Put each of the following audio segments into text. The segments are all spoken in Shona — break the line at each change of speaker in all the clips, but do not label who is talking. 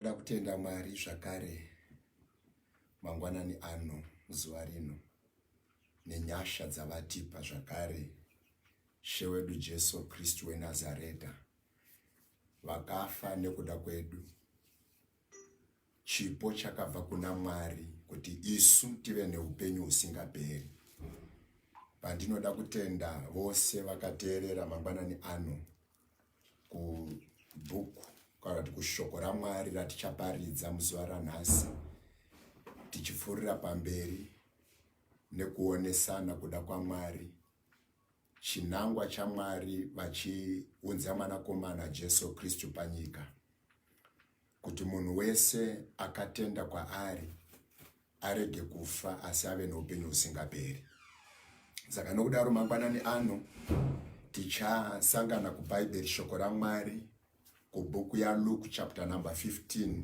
Ndoda kutenda Mwari zvakare mangwanani ano zuva rino nenyasha dzavatipa zvakare She wedu Jesu Kristu weNazareta vakafa nekuda kwedu chipo chakabva kuna Mwari kuti isu tive neupenyu husingaperi pandinoda kutenda vose vakateerera mangwanani ano kubhuku kana kuti kushoko ramwari ratichaparidza muzuva ranhasi tichipfuurira pamberi nekuonesana kuda kwamwari chinangwa chamwari vachiunza mwanakomana jesu kristu panyika kuti munhu wese akatenda kwaari arege kufa asi ave noupenyu husingaperi saka nokudaro mangwanani ano tichasangana kubhaibheri shoko ramwari kubhuku yaluke chapter number 15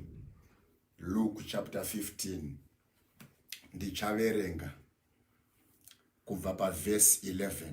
luke chapter 15 ndichaverenga kubva pavhesi 11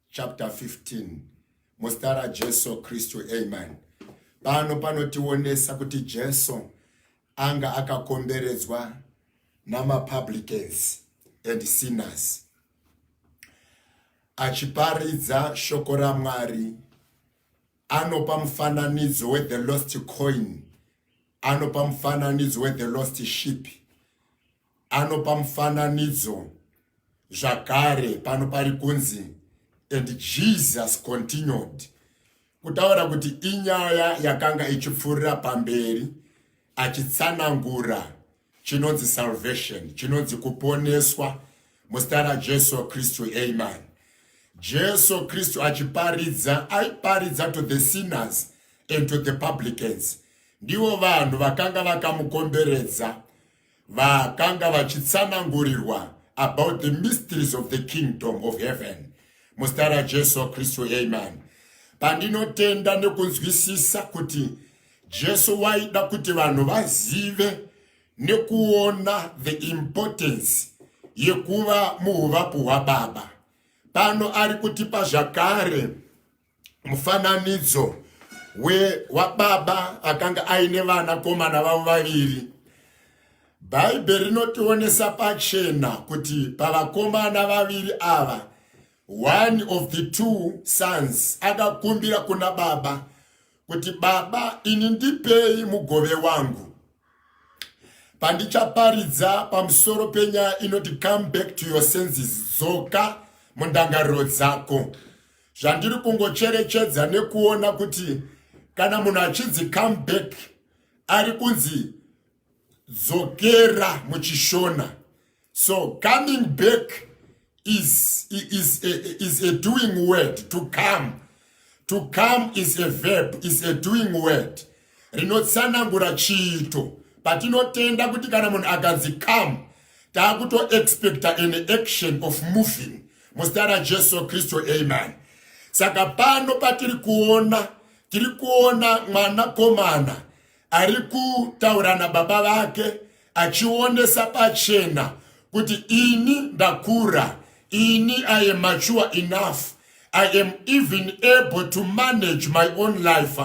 chapter 15 muzita rajesu kristu amen pano panotionesa kuti jesu anga akakomberedzwa namapublicans and sinners achiparidza shoko ramwari anopa mufananidzo wethe lost coin anopa mufananidzo wethe lost ship anopa mufananidzo zvakare pano pari kunzi and jesus continued kutaura kuti inyaya yakanga ichipfuurira pamberi achitsanangura chinonzi salvation chinonzi kuponeswa muzita rajesu kristu amen jesu kristu achiparidza aiparidza to the sinners and to the publicans ndivo vanhu vakanga vakamukomberedza vakanga vachitsanangurirwa about the mysteries of the kingdom of heaven muzita rajesu kristu amen pandinotenda nekunzwisisa kuti jesu waida kuti vanhu vazive nekuona the importance yekuva muuvapo hwababa pano ari kutipa zvakare mufananidzo wababa akanga aine vana komana vavo vaviri bhaibheri rinotionesa pachena kuti pavakomana vaviri ava one of the two sons akakumbira kuna baba kuti baba ini ndipei mugove wangu pandichaparidza pamusoro penyaya inoti come back to your senses dzoka mundangariro dzako zvandiri kungocherechedza nekuona kuti kana munhu achinzi come back ari kunzi dzokera muchishona so coming back is, is, a, is a doing word to come to come is a verb is a doing word rinotsanangura chiito patinotenda kuti kana munhu akanzi come taakutoexpecta an action of moving muzita rajesu kristu amen saka pano patiri kuona tiri kuona mwanakomana ari kutaura nababa vake achionesa pachena kuti ini ndakura ini i am mature enough i am even able to manage my own life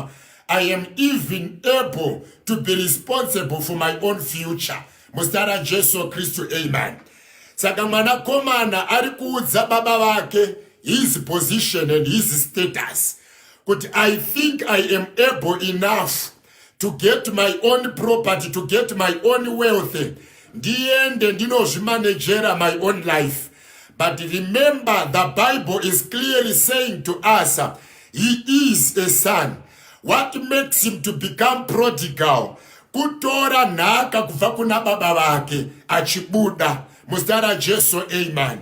i am even able to be responsible for my own future muzita rajesu kristu amen saka mwanakomana ari kuudza baba vake his position and his status kuti i think i am able enough to get my own property to get my own wealth ndiende ndinozvimanejera my own life but remember the bible is clearly saying to us he is a son what makes him to become prodigal kutora nhaka kubva kuna baba vake achibuda muzita rajesu amen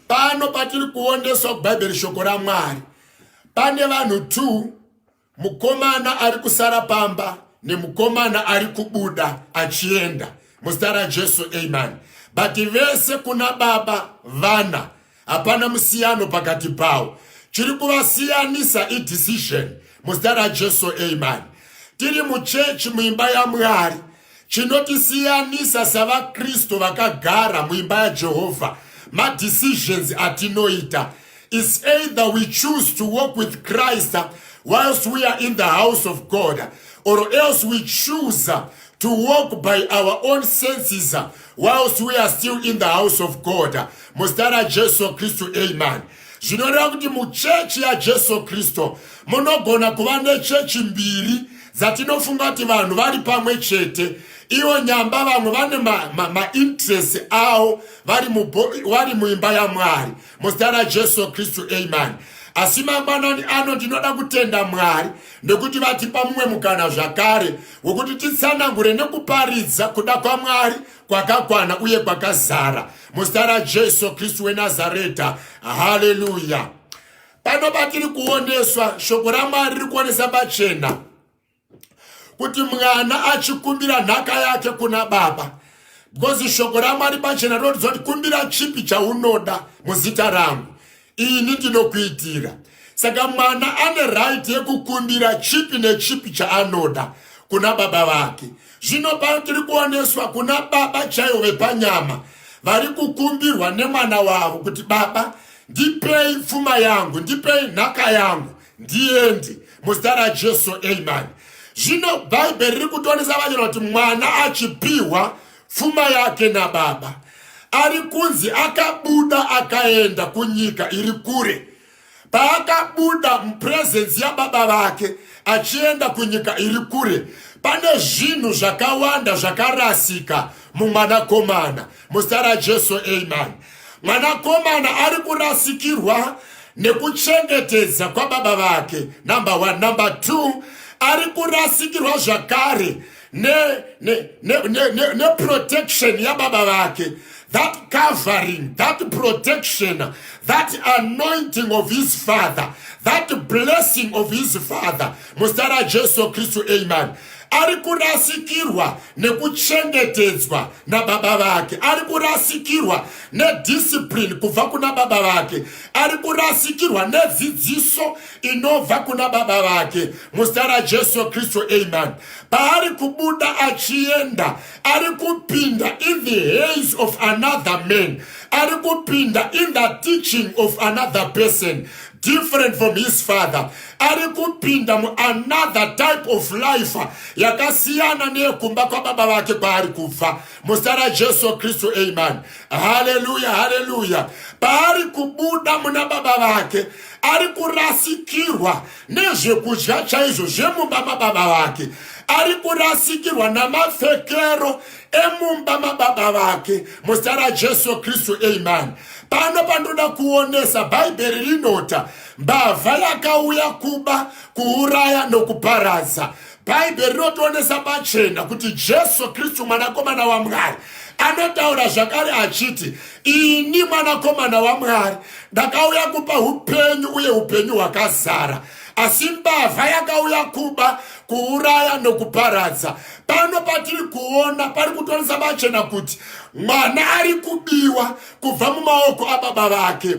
pano patiri kuoneswa kubhaibheri shoko ramwari pane vanhu two Mukomana ari kusara pamba nemukomana ari kubuda achienda muzita raJesu amen. But vese kuna baba vana hapana musiyano pakati pawo. Chiri kuvasiyanisa idecision muzita raJesu amen. Tiri muchechi muimba yaMwari Chinotisiyanisa savaKristu vakagara muimba yaJehovha madecisions atinoita is either we choose to walk with Christ whilst we are in the house of God or else we choose to walk by our own senses whilst we are still in the house of God. Mustara Jesu Christu, amen. zvinoreva kuti muchechi yajesu kristu munogona kuva nechechi mbiri dzatinofunga kuti vanhu vari pamwe chete ivo nyamba vamwe vane mainterest ma, ma avo vari muimba yamwari muzita rajesu kristu amen asi mangwanani ano ndinoda kutenda mwari nekuti vatipa mumwe mukana zvakare wekuti titsanangure nekuparidza kuda kwamwari kwakakwana uye kwakazara muzita rajesu kristu wenazareta haleluya pano patiri kuoneswa shoko ramwari riri kuonesa pachena kuti mwana achikumbira nhaka yake kuna baba because shoko ramwari pachena rinotiza kuti kumbira chipi chaunoda muzita rangu ini ndinokuitira saka mwana ane right yekukumbira chipi nechipi chaanoda kuna baba vake zvino pano tiri kuoneswa kuna baba chaivo vepanyama vari kukumbirwa nemwana wavo kuti baba ndipei pfuma yangu ndipei nhaka yangu ndiende muzita rajesu amen zvino bhaibheri riri kutonesa vanyora kuti mwana achipiwa pfuma yake nababa ari kunzi akabuda akaenda kunyika iri kure paakabuda mupurezenzi yababa vake achienda kunyika iri kure pane zvinhu zvakawanda zvakarasika mumwanakomana muzita rajesu amen mwanakomana ari kurasikirwa nekuchengetedza kwababa vake number one number two ari kurasikirwa zvakare neprotection ne, ne, ne, ne yababa vake that covering that protection that anointing of his father that blessing of his father muzita rajesu kristu amen ari kurasikirwa nekuchengetedzwa nababa vake ari kurasikirwa nediscipline kubva kuna baba vake ari kurasikirwa nedzidziso inobva kuna baba vake muzita rajesu kristu amen paari kubuda achienda ari kupinda in the hands of another man ari kupinda in the teaching of another person different from his father ari kupinda muanother type of life yakasiyana neyekumba kwababa vake kwaari kubva muzita rajesu kristu amen haleluya haleluya paari kubuda muna baba vake ari kurasikirwa nezvekudya chaizvo zvemumba mababa vake ari kurasikirwa namapfekero emumba mababa vake muzita rajesu kristu amen pano pandoda kuonesa bhaibheri rinota mbavha yakauya kuba kuuraya nokuparadza bhaibheri rinotionesa pachena kuti jesu kristu mwanakomana wamwari anotaura zvakare achiti ini mwanakomana wamwari ndakauya kupa upenyu uye upenyu hwakazara asi mbavha yakauya kuba kuuraya nokuparadza pano patiri kuona pari kutonisa machena kuti mwana ari kubiwa kubva mumaoko ababa vake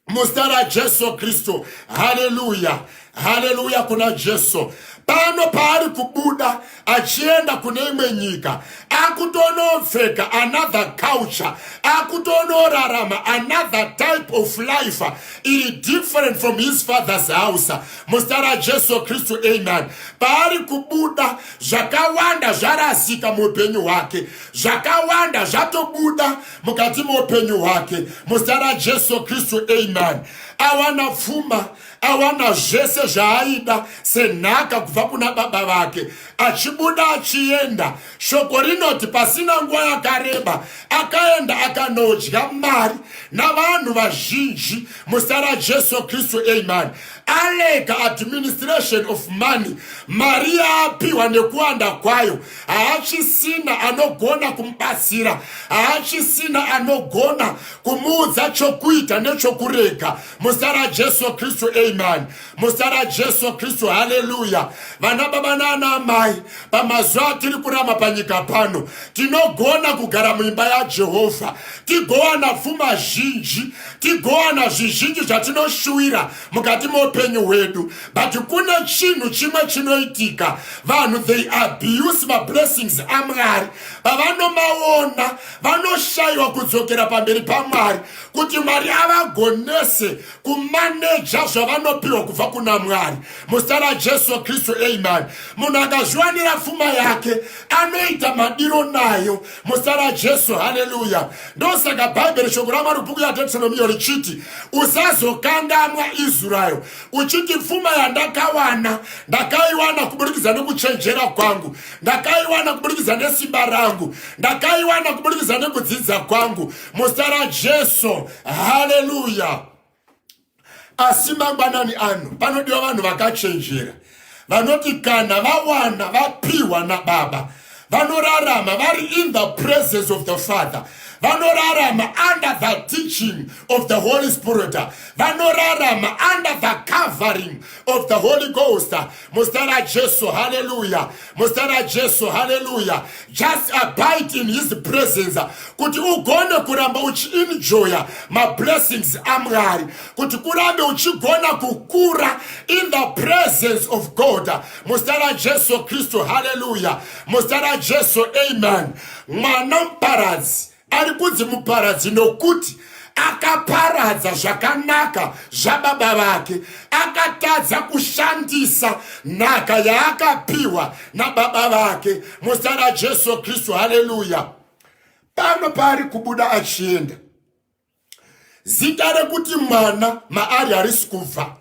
muzita rajesu kristu haleluya haleluya kuna jesu pano paari kubuda achienda kune imwe nyika akutonopfeka another culture akutonorarama another type of life iri different from his father's house muzita rajesu kristu amen paari kubuda zvakawanda zvarasika muupenyu hwake zvakawanda zvatobuda mukati meupenyu hwake muzita rajesu kristu amen awana pfuma awana zvese zvaaida senhaka kubva kuna baba vake achibuda achienda shoko rinoti pasina nguva yakareba akaenda akanodya mari navanhu vazhinji muzita rajesu kristu amen alega administration of money mari yaapiwa nekuwanda kwayo haachisina anogona kumubatsira haachisina anogona kumuudza chokuita nechokurega muzita rajesu kristu amen muzita rajesu kristu haleluya vana baba naana amai pamazuva atiri kurama panyika pano tinogona kugara muimba yajehovha tigowana pfuma zhinji tigowana zvizhinji zvatinoshuwira mukati meupenyu hwedu but kune chinhu chimwe chinoitika vanhu they abuse mablessings amwari pavanomaona vanoshayiwa kudzokera pamberi pamwari kuti mwari avagonese kumaneja zvavanopiwa kubva kuna mwari muzita rajesu kristu amen munhu akazviwanira pfuma yake anoita madiro nayo muzita rajesu haleluya ndosaka bhaibheri shoko ramwari bhuku yadetronomiyo richiti usazokangamwa israel uchiti pfuma yandakawana ndakaiwana kuburikidza nekuchenjera kwangu ndakaiwana kuburikidza nesimba rangu ndakaiwana kuburikidza nekudzidza kwangu muzita rajesu haleluya asi mangwanani ano panodiwa vanhu vakachenjera vanoti kana vawana vapiwa nababa vanorarama vari in the presence of the father vanorarama under the teaching of the holy spirit vanorarama under the covering of the holy ghost Muzita raJesu, haleluya. Muzita raJesu, haleluya. Just abide in his presence kuti ugone kuramba uchienjoya mablessings aMwari, kuti kurambe uchigona kukura in the presence of God. Muzita raJesu Kristu, haleluya. Muzita raJesu, amen. Mwana muparadzi ari kunzi muparadzi nokuti akaparadza zvakanaka zvababa vake akatadza kushandisa nhaka yaakapiwa nababa vake muzita rajesu kristu haleluya pano paari kubuda achienda zita rekuti mwana maari harisi kubva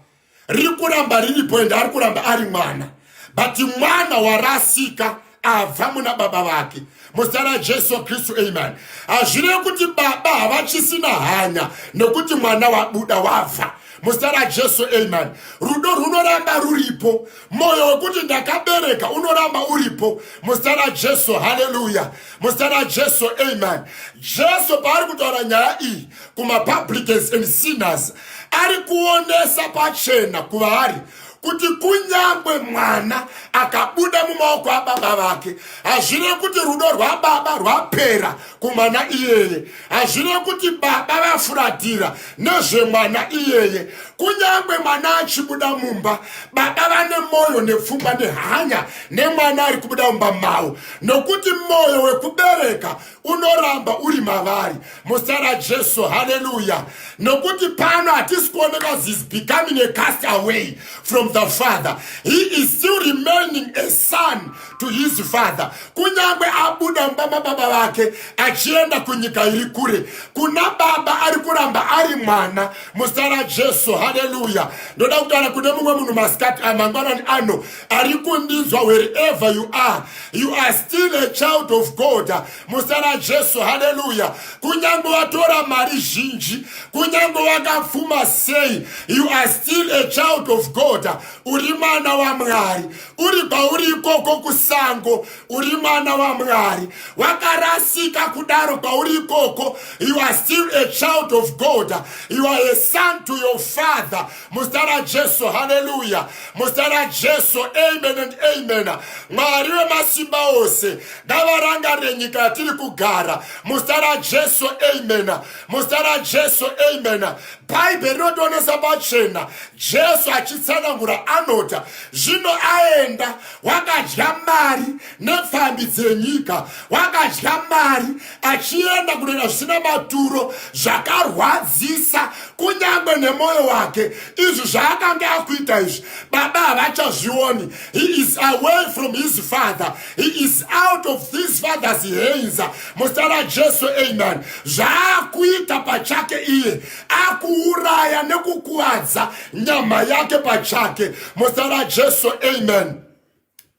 riri kuramba riripo ende ari kuramba ari mwana but mwana warasika abva muna baba vake muzita rajesu kristu amen hazvirei kuti baba havachisina hanya nekuti mwana wabuda wabva muzita rajesu amen rudo rwunoramba ruripo moyo wekuti ndakabereka unoramba uripo muzita rajesu haleluya muzita rajesu amen jesu paari kutaura nyaya iyi kumapublicans and sinners ari kuonesa pachena kuvaari kuti kunyangwe mwana akabuda mumaoko ababa vake hazvine kuti rudo rwababa rwapera kumwana iyeye hazvine kuti baba vafuratira nezvemwana iyeye kunyange mwana achibuda mumba baba vane mwoyo nepfungwa nehanya nemwana ari kubuda mumba mavo nokuti mwoyo wekubereka unoramba uri mavari muzita rajesu haleluya nokuti pano hatisi kuoneka zis becoming a cast away from the father he is still remaining a son to his father kunyange abuda mumba mababa vake achienda kunyika iri kure kuna baba ari kuramba ari mwana muzita rajesu haleluya ndoda kutaura kune mumwe munhu masikati amangwanani ah, ano ari kundinzwa wherever you are you are still a child of god muzita rajesu haleluya kunyange watora mari zhinji kunyange wakapfuma sei you are still a child of god uri mwana wamwari uri pauri ikoko kusango uri mwana wamwari wakarasika kudaro pauri ikoko you are still a child of god you are a son to your father muzita rajesu haleluya muzita rajesu amen and amen mwari wemasimba ose ngavarangarire nyika yatiri kugara muzita rajesu amen muzita rajesu amen bhaibheri rinodonesa pachena jesu achitsanangura anota zvino aenda wakadya mari nepfambi dzenyika wakadya mari achienda kunoita zvisina maturo zvakarwadzisa kunyange nemwoyo wake izvi zvaakange akuita izvi baba havachazvioni he is away from his father He is out of this father's hands muzita rajesu amen zvaakuita pachake iye akuuraya nekukuvadza nyama yake pachake muzita rajesu amen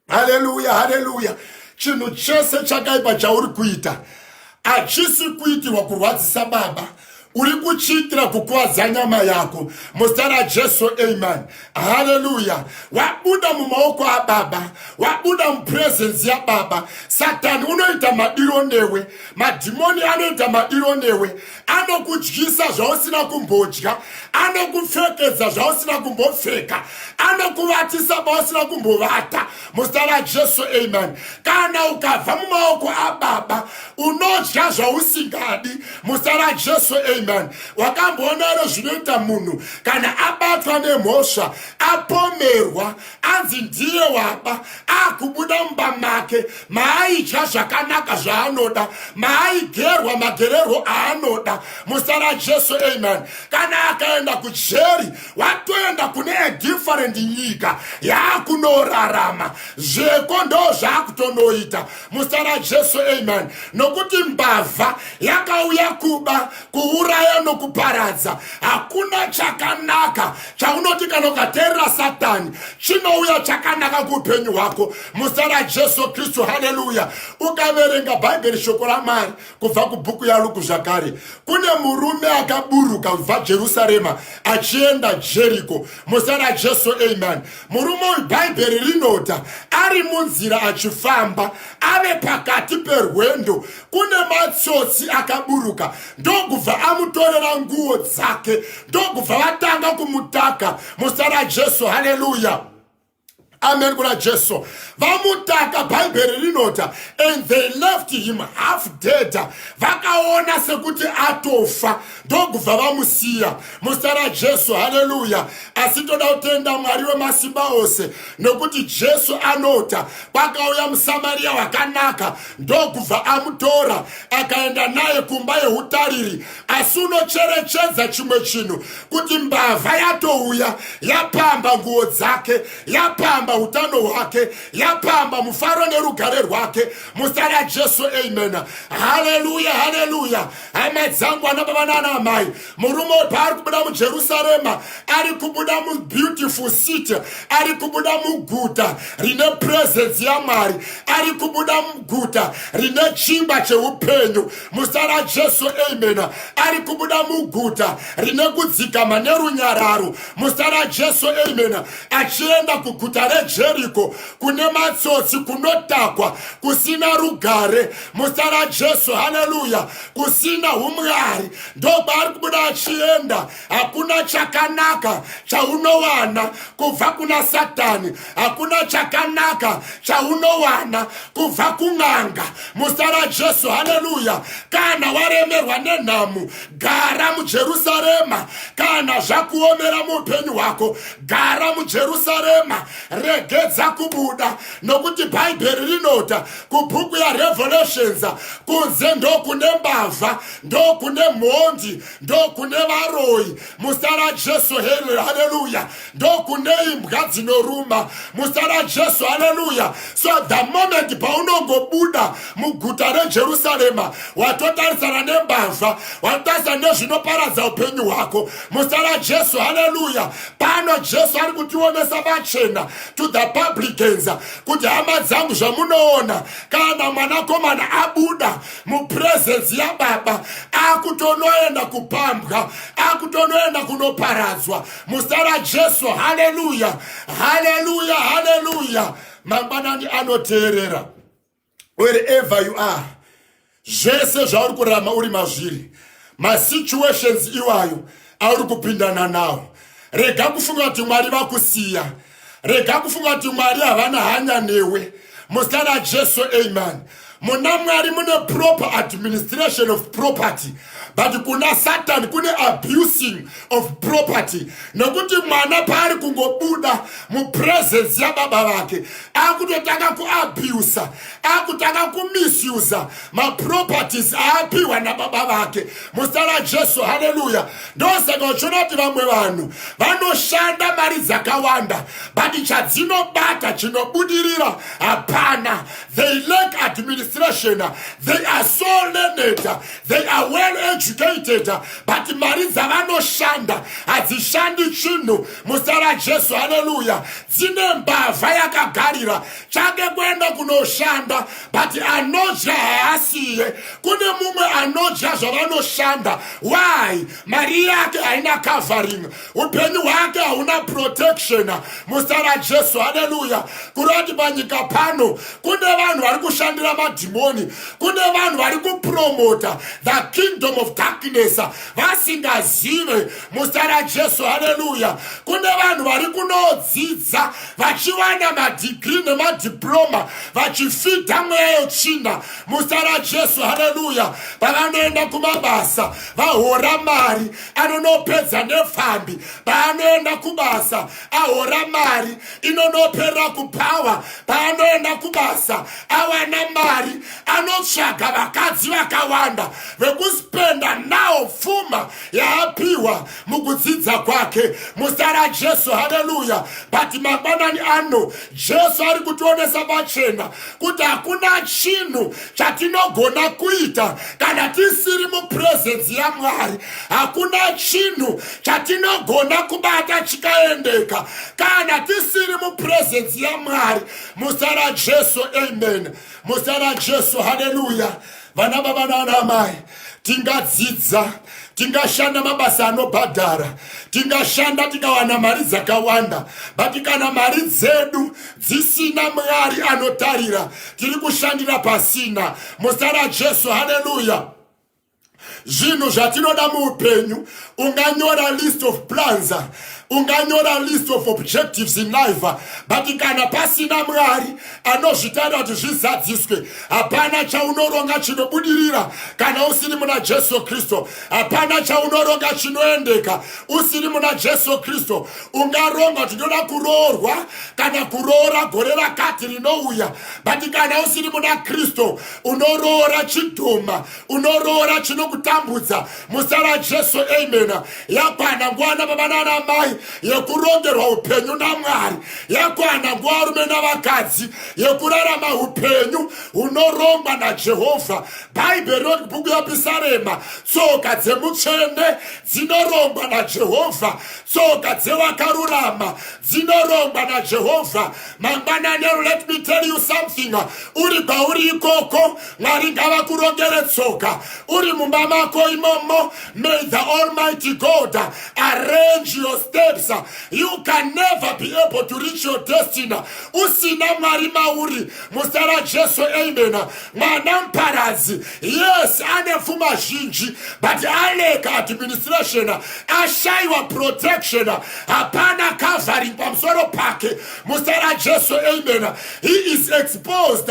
haleluya haleluya chinhu chese chakaipa chauri kuita hachisi kuitirwa kurwadzisa baba uri kuchiitira kukuvadza nyama yako muzita rajesu amen haleluya wabuda mumaoko ababa wabuda mupurezensi yababa satani unoita madiro newe madhimoni anoita madiro newe anokudyisa zvausina kumbodya anokupfekedza zvausina kumbopfeka anokuvatisa pausina kumbovata muzita rajesu amen kana ukabva mumaoko ababa unodya zvausingadi muzita rajesu amen wakamboona ere zvinoita munhu kana abatwa nemhosva apomerwa anzi ndiye waba akubuda mumba make maaidya zvakanaka zvaanoda maaigerwa magererwo aanoda muzita rajesu amen kana akaenda kujeri watoenda kune edifferent nyika yaakunorarama zveko ndo zvaakutonoita muzita rajesu amen nokuti mbavha yakauya kuba kuuraya nokuparadza hakuna chakanaka chaunoti kana ukateerera satani chinouya chakanaka kuupenyu hwako muzita rajesu kristu haleluya ukaverenga bhaibheri shoko ramari kubva kubhuku yaluku zvakare kune murume akaburuka kubva jerusarema achienda jeriko muzita rajesu amen murume uyu bhaibheri rinota ari munzira achifamba ave pakati perwendo kune matsotsi akaburuka ndokubva amutorera nguo dzake ndokubva vatanga kumutaka muzita rajesu haleluya amen kuna jesu vamutaka bhaibheri rinota and they left him half dead vakaona sekuti atofa ndokubva vamusiya muzita rajesu haleluya asi toda kutenda mwari wemasimba ose nokuti jesu anota kwakauya musamariya wakanaka ndokubva amutora akaenda naye kumba yeutariri asi unocherechedza chimwe chinhu kuti mbavha yatouya yapamba nguo dzake yapamba utano hwake yapamba mufaro nerugare rwake muzita rajesu amen haleluya haleluya hama dzangu ana baba naana amai murume wepaari kubuda mujerusarema ari kubuda mubeautiful city ari kubuda muguta rine presence yamwari ari kubuda muguta rine chimba cheupenyu muzita rajesu amen ari kubuda muguta rine kudzikama nerunyararo muzita rajesu amen achienda kuguta rejeriko kune matsotsi kunotakwa kusina rugare muzita rajesu haleluya kusina umwari ndokwaari kubuda achienda hakuna chakanaka chaunowana kubva kuna satani hakuna chakanaka chaunowana kubva kun'anga musa rajesu haleluya kana waremerwa nenhamo gara mujerusarema kana zvakuomera muupenyu hwako gara mujerusarema regedza kubuda nokuti bhaibheri rinota kubhuku yarevelations kunze ndokune mbavha ndokune mhondi ndokune varoyi muzita rajesu haleluya ndokune imbwa dzinoruma muzita rajesu haleluya so the moment paunongobuda muguta rejerusarema watotarisana nembavha watotarisana nezvinoparadza upenyu hwako muzita rajesu haleluya pano jesu ari kutionesa vachena to the publicans kuti hama dzangu zvamunoona kana mwanakomana abuda mupresence yababa akutonoenda kupambwa akutonoenda kunoparadzwa muzita rajesu haleluya haleluya haleluya mangwanani anoteerera wherever you are zvese zvauri kurama uri mazviri masituations iwayo auri kupindana nawo rega kufunga kuti mwari vakusiya rega kufunga kuti mwari havana hanya newe muzita rajesu amen muna mwari mune proper administration of property but kuna satani kune abusing of property nokuti mwana paari kungobuda mupresence yababa vake akutotanga kuabusa akutanga kumisusa maproperties aapiwa nababa vake muzita rajesu haleluya ndosaka uchiona kuti vamwe vanhu vanoshanda mari dzakawanda but chadzinobata chinobudirira hapana they lack administration they are so learned they are well educated but mari dzavanoshanda hadzishandi chinhu muzita rajesu haleluya dzine mbavha yakagarira chake kuenda kunoshanda but anodya haasiye kune mumwe anodya zvavanoshanda why mari yake haina covering upenyu hwake hauna protection muzita rajesu haleluya kureva kuti panyika pano kune vanhu vari kushandira madhimoni kune vanhu vari kupromota the kingdom of darkness vasingazive muzita rajesu haleluya kune vanhu vari kunodzidza vachiwana madhigiri nemadiploma vachifidha mweya yetsvina musa rajesu haleluya pavanoenda kumabasa vahora mari anonopedza nepfambi paanoenda kubasa ahora mari inonoperera kuphawa paanoenda kubasa awana mari anotsvaga vakadzi vakawanda vekuspenda nawo pfuma yaapiwa mukudzidza kwake muzita rajesu haleluya but mangwanani ano jesu ari kutionesa pachena kuti hakuna chinhu chatinogona kuita kana tisiri mupurezenzi yamwari hakuna chinhu chatinogona kubata chikaendeka kana tisiri mupurezenzi yamwari muzita rajesu amen muzita rajesu haleluya vana baba nana amai tingadzidza tingashanda mabasa anobhadhara tingashanda tikawana mari dzakawanda but kana mari dzedu dzisina mwari anotarira tiri kushandira pasina muzita rajesu haleluya zvinhu zvatinoda muupenyu unganyora list of plans unganyora list of objectives in life but kana pasina mwari anozvitaira kuti zvizadziswe hapana chaunoronga chinobudirira kana usiri muna jesu kristu hapana chaunoronga chinoendeka usiri muna jesu kristu ungaronga kuti ndoda kuroorwa kana kuroora gore rakati rinouya but kana usiri muna kristu unoroora chidhuma unoroora chinokutambudza musa rajesu amen yakwana nguva nababa nana mai yekurongerwa upenyu namwari yakwana nguva varume navakadzi yekurarama upenyu hunorongwa najehovha bhaibheri roti bhuku yapisarema tsoka dzemutsvene dzinorongwa najehovha tsoka dzevakarurama dzinorongwa najehovha mangwanani let me tell you something uri kwauri ikoko Mwari ngavakurongere tsoka uri mumba mako imomo. May the Almighty God arrange your steps. You can never be able to reach your destiny usina Mwari mauri. Muzita raJesu, amen. Mwana muparadzi, yes, ane pfuma zhinji but aleka administration, ashaiwa protection, hapana covering pamusoro pake. Muzita raJesu, amen. He is exposed.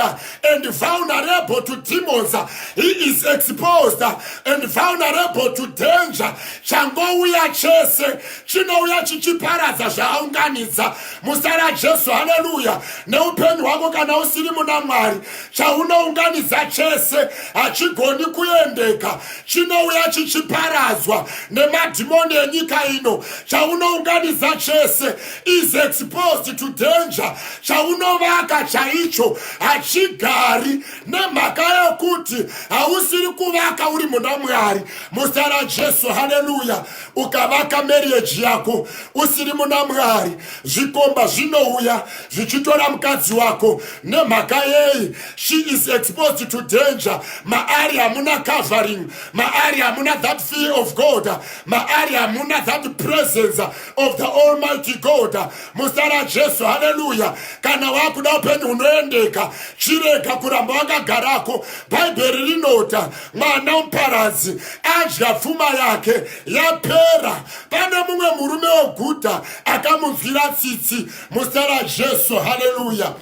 and vulnerable to demons he is exposed and vulnerable to danger changouya chese chinouya chichiparadza zvaaunganidza muzita rajesu haleluya neupenyu hwako kana usiri muna mwari chaunounganidza chese hachigoni kuendeka chinouya chichiparadzwa nemadhimoni enyika ino chaunounganidza chese is exposed to danger chaunovaka chaicho hachigari nemhaka yokuti hausiri kuvaka uri muna mwari muzita rajesu haleluya ukavaka marieji yako usiri muna mwari zvikomba zvinouya zvichitora mukadzi wako nemhaka yei she is exposed to danger maari hamuna covering maari hamuna that fear of god maari hamuna that presence of the almighty god muzita rajesu haleluya kana wakuda upenyu hunoendeka chirega kuramba wakagarako bhaibheri rinota mwana muparadzi adya pfuma yake yapera pane mumwe murume weguta akamunzwira tsitsi muzita rajesu haleluya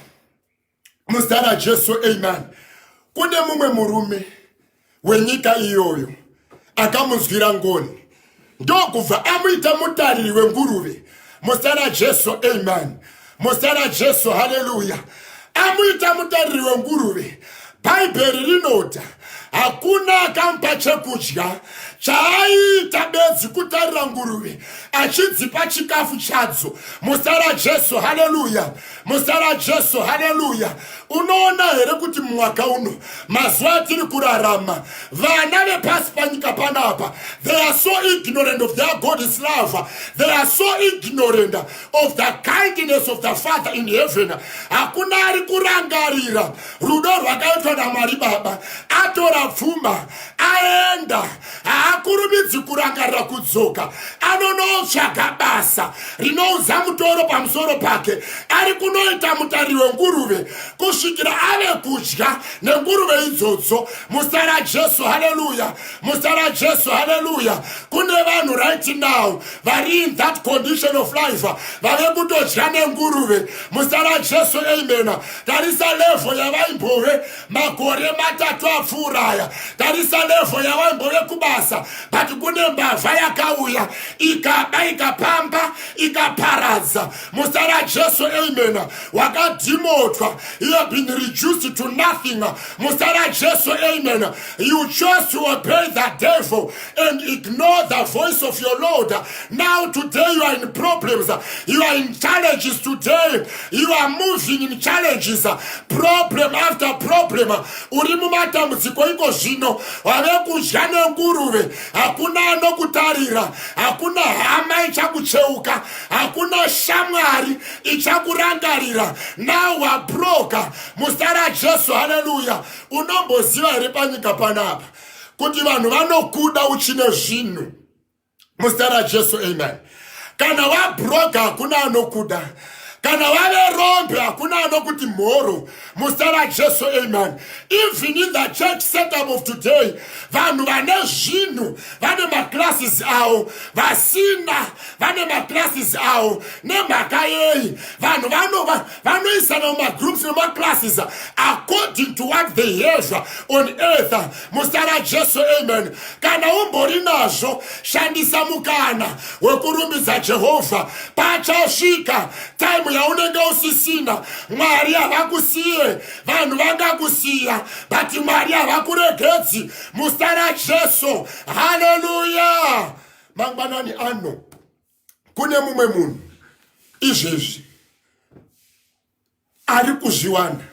muzita rajesu amen kune mumwe murume wenyika iyoyo akamunzwira ngoni ndokubva amuita mutariri wenguruve muzita rajesu amen muzita rajesu haleluya amuita mutariri wenguruve bhaibheri rinoti hakuna akampa chekudya chaaita bedzi kutarira nguruve achidzipa chikafu chadzo muzita rajesu haleluya muzita rajesu haleluya unoona here kuti mumwaka uno mazuva atiri kurarama vana vepasi panyika panapa they are so ignorant of their god is love they are so ignorant of the kindness of the father in heaven hakuna ari kurangarira rudo rwakaitwa namwari baba atora pfuma aenda haakurumidzi kurangarira kudzoka anonotsvaga basa rinoudza mutoro pamusoro pake ari kunoita mutariri wenguruve kusvikira ave kudya nenguruve idzodzo musa rajesu haleluya musa rajesu haleluya kune vanhu right now vari in that condition of life vave kutodya nenguruve musa rajesu amen tarisa levo yavaimbove makore matatu apfuura aya tarisa levho yavaimbove kubasa but kune mbavha yakauya ikaba ikapamba ikaparadza musa rajesu amen wakadhimotwa you have been reduced to nothing musa rajesu amen you chose to obey the devil and ignore the voice of your Lord. Now today you are in problems, you are in challenges today, you are moving in challenges, problem after problem. Uri mumatambudziko iko zvino, wave kudya nenguruve, hakuna anokutarira, hakuna hama ichakucheuka, hakuna shamwari ichakurangarira. Now wabroka, mustara Jesu, haleluya. Unomboziva here panyika panapa? kuti vanhu vanokuda uchine zvinhu muzita rajesu amen kana wabroga hakuna anokuda kana vave rombe hakuna anokuti mhoro muzita rajesu amen even in the church setup of today vanhu vane zvinhu vane maclasses avo vasina vane maclasses avo nemhaka yei vanhu vanova vanoisana mumagroups nemaclasses according to what they have on earth muzita rajesu amen kana umbori nazvo shandisa mukana wekurumbidza jehovha pachasvika taimu yaunenge usisina mwari havakusiye vanhu vangakusiya but mwari havakuregedzi muzita rajesu haleluya mangwanani ano kune mumwe munhu izvezvi ari kuzviwana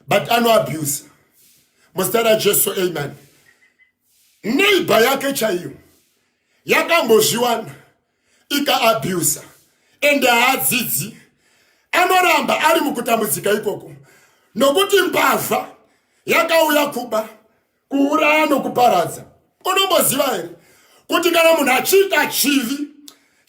but anoabusa muzita rajesu amen neighbha yake chaiyo yakambozviwana ikaabusa ende haadzidzi anoramba ari mukutambudzika ikoko nokuti mbavha yakauya kuba kuuraya nokuparadza unomboziva here kuti kana munhu achiita chivi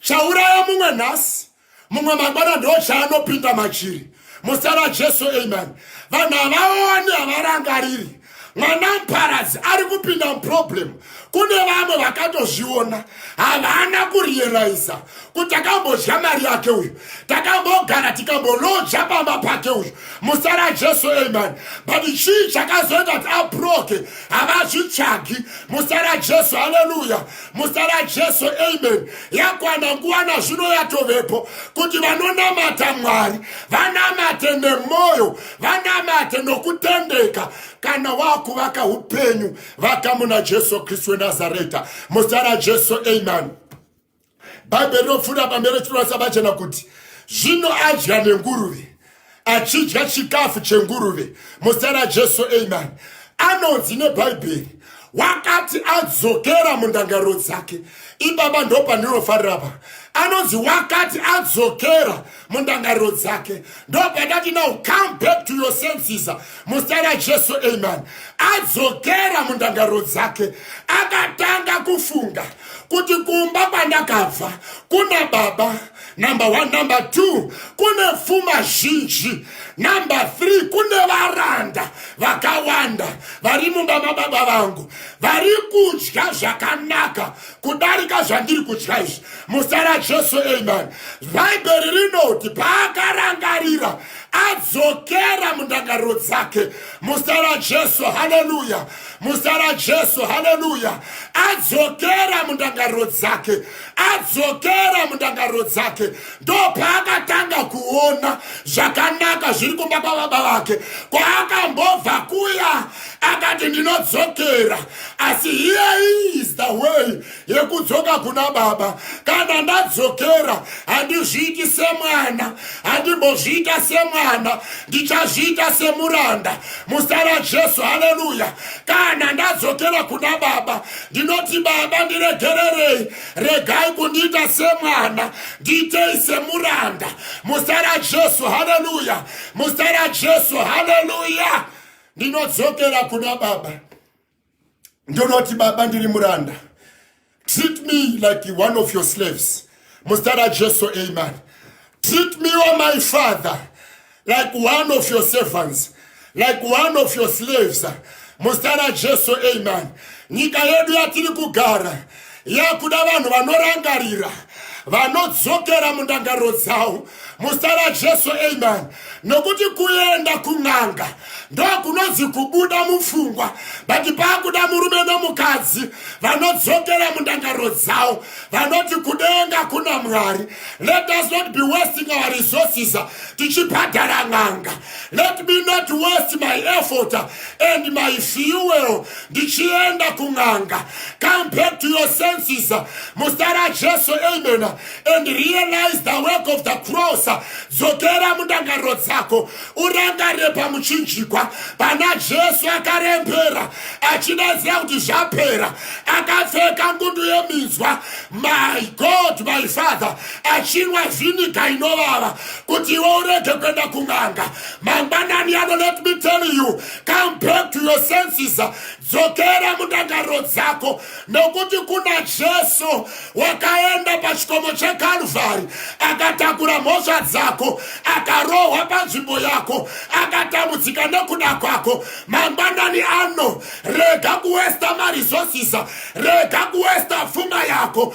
chauraya mumwe nhasi mumwe mangwana ndo chaanopinda machiri muzita rajesu amen vanhu havaoni havarangariri mwana muparadzi ari kupinda muproblem kune vamwe vakatozviona havana kuriyeraiza kuti takambodya mari yake uyu takambogara tikambolodya pamba pake uyu musara jesu amen but chii chakazoita kuti abroke havazvitsvagi musara jesu haleluya musara jesu amen yakwana nguva nazvino yatovepo kuti vanonamata mwari vanamate nemwoyo vanamate nokutendeka kana wakuvaka upenyu vakamuna jesu kristu wenazareta musara jesu amen bhaibheri rinopfuura pamberi richinoratidza pachena kuti zvino adya nenguruve achidya chikafu chenguruve muzita rajesu amen anonzi nebhaibheri wakati adzokera mundangariro dzake ibaba ndopandinofarira pa anonzi wakati adzokera mundangariro dzake ndopandati now come back to your senses muzita rajesu amen adzokera mundangariro dzake akatanga kufunga kuti kumba kwandakabva kuna baba number one number two kune pfuma zhinji number three kune varanda vakawanda vari mumba mababa vangu vari kudya zvakanaka kudarika zvandiri kutya izvi muzita rajesu amen bhaibheri rinoti paakarangarira adzokera mundangariro dzake muzita rajesu haleluya muzita rajesu haleluya adzokera mundangariro dzake adzokera mundangariro dzake ndo paakatanga kuona zvakanaka zviri kumba kwababa vake kwaakambobva kuya akati ndinodzokera asi here is the way yekudzoka kuna baba kana ndadzokera handizviiti semwana handimbozviita semwana ndichazviita semuranda muzita rajesu haleluya kana ndadzokera kuna baba ndinoti baba ndiregererei regai kundiita semwana ndiitei semuranda muzita rajesu haleluya muzita rajesu haleluya ndinodzokera kuna baba ndonoti baba ndiri muranda treat me like one of your slaves muzita rajesu amen treat me o my father like one of your servants like one of your slaves muzita rajesu amen nyika yedu yatiri kugara yakuda vanhu vanorangarira vanodzokera mundangariro dzavo muzita rajesu amen nokuti kuenda kun'anga ndokunonzi kubuda mupfungwa but paakuda murume nomukadzi vanodzokera mundangariro dzavo vanoti kudenga kuna mwari let us not be wasting our resources tichibhadhara n'anga Let me not waste my effort and my fuel ndichienda kun'anga. Come back to your senses muzita raJesu amen and realize the work of the cross. Dzokera mundangariro dzako urangarire pamuchinjikwa pana Jesu akarembera achidaidzira kuti zvapera akapfeka ngundu yeminzwa my God my Father achinwa vhiniga inovava kuti iwe urege kuenda kun'anga mangwanani ano let me tell you come back to your senses dzokera mundangariro dzako nokuti kuna jesu wakaenda pachikomo chekalvari akatakura mhosva dzako akarohwa panzvimbo yako akatambudzika nekuda kwako mangwanani ano rega kuwesta maresources rega kuwesta pfuma yako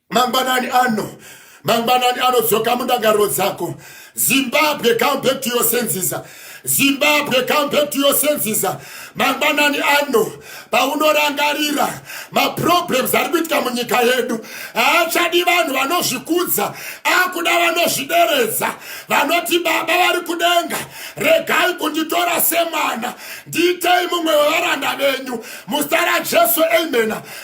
mangwanani ano mangwanani anodzoka mundangariro dzako zimbabwe come back to your senses zimbabwe come back to your senses mangwanani ano paunorangarira maproblems ari kuitika munyika yedu haachadi vanhu vanozvikudza akuda vanozvideredza vanoti baba vari kudenga regai kunditora semwana ndiitei mumwe wevaranda venyu muzita rajesu amena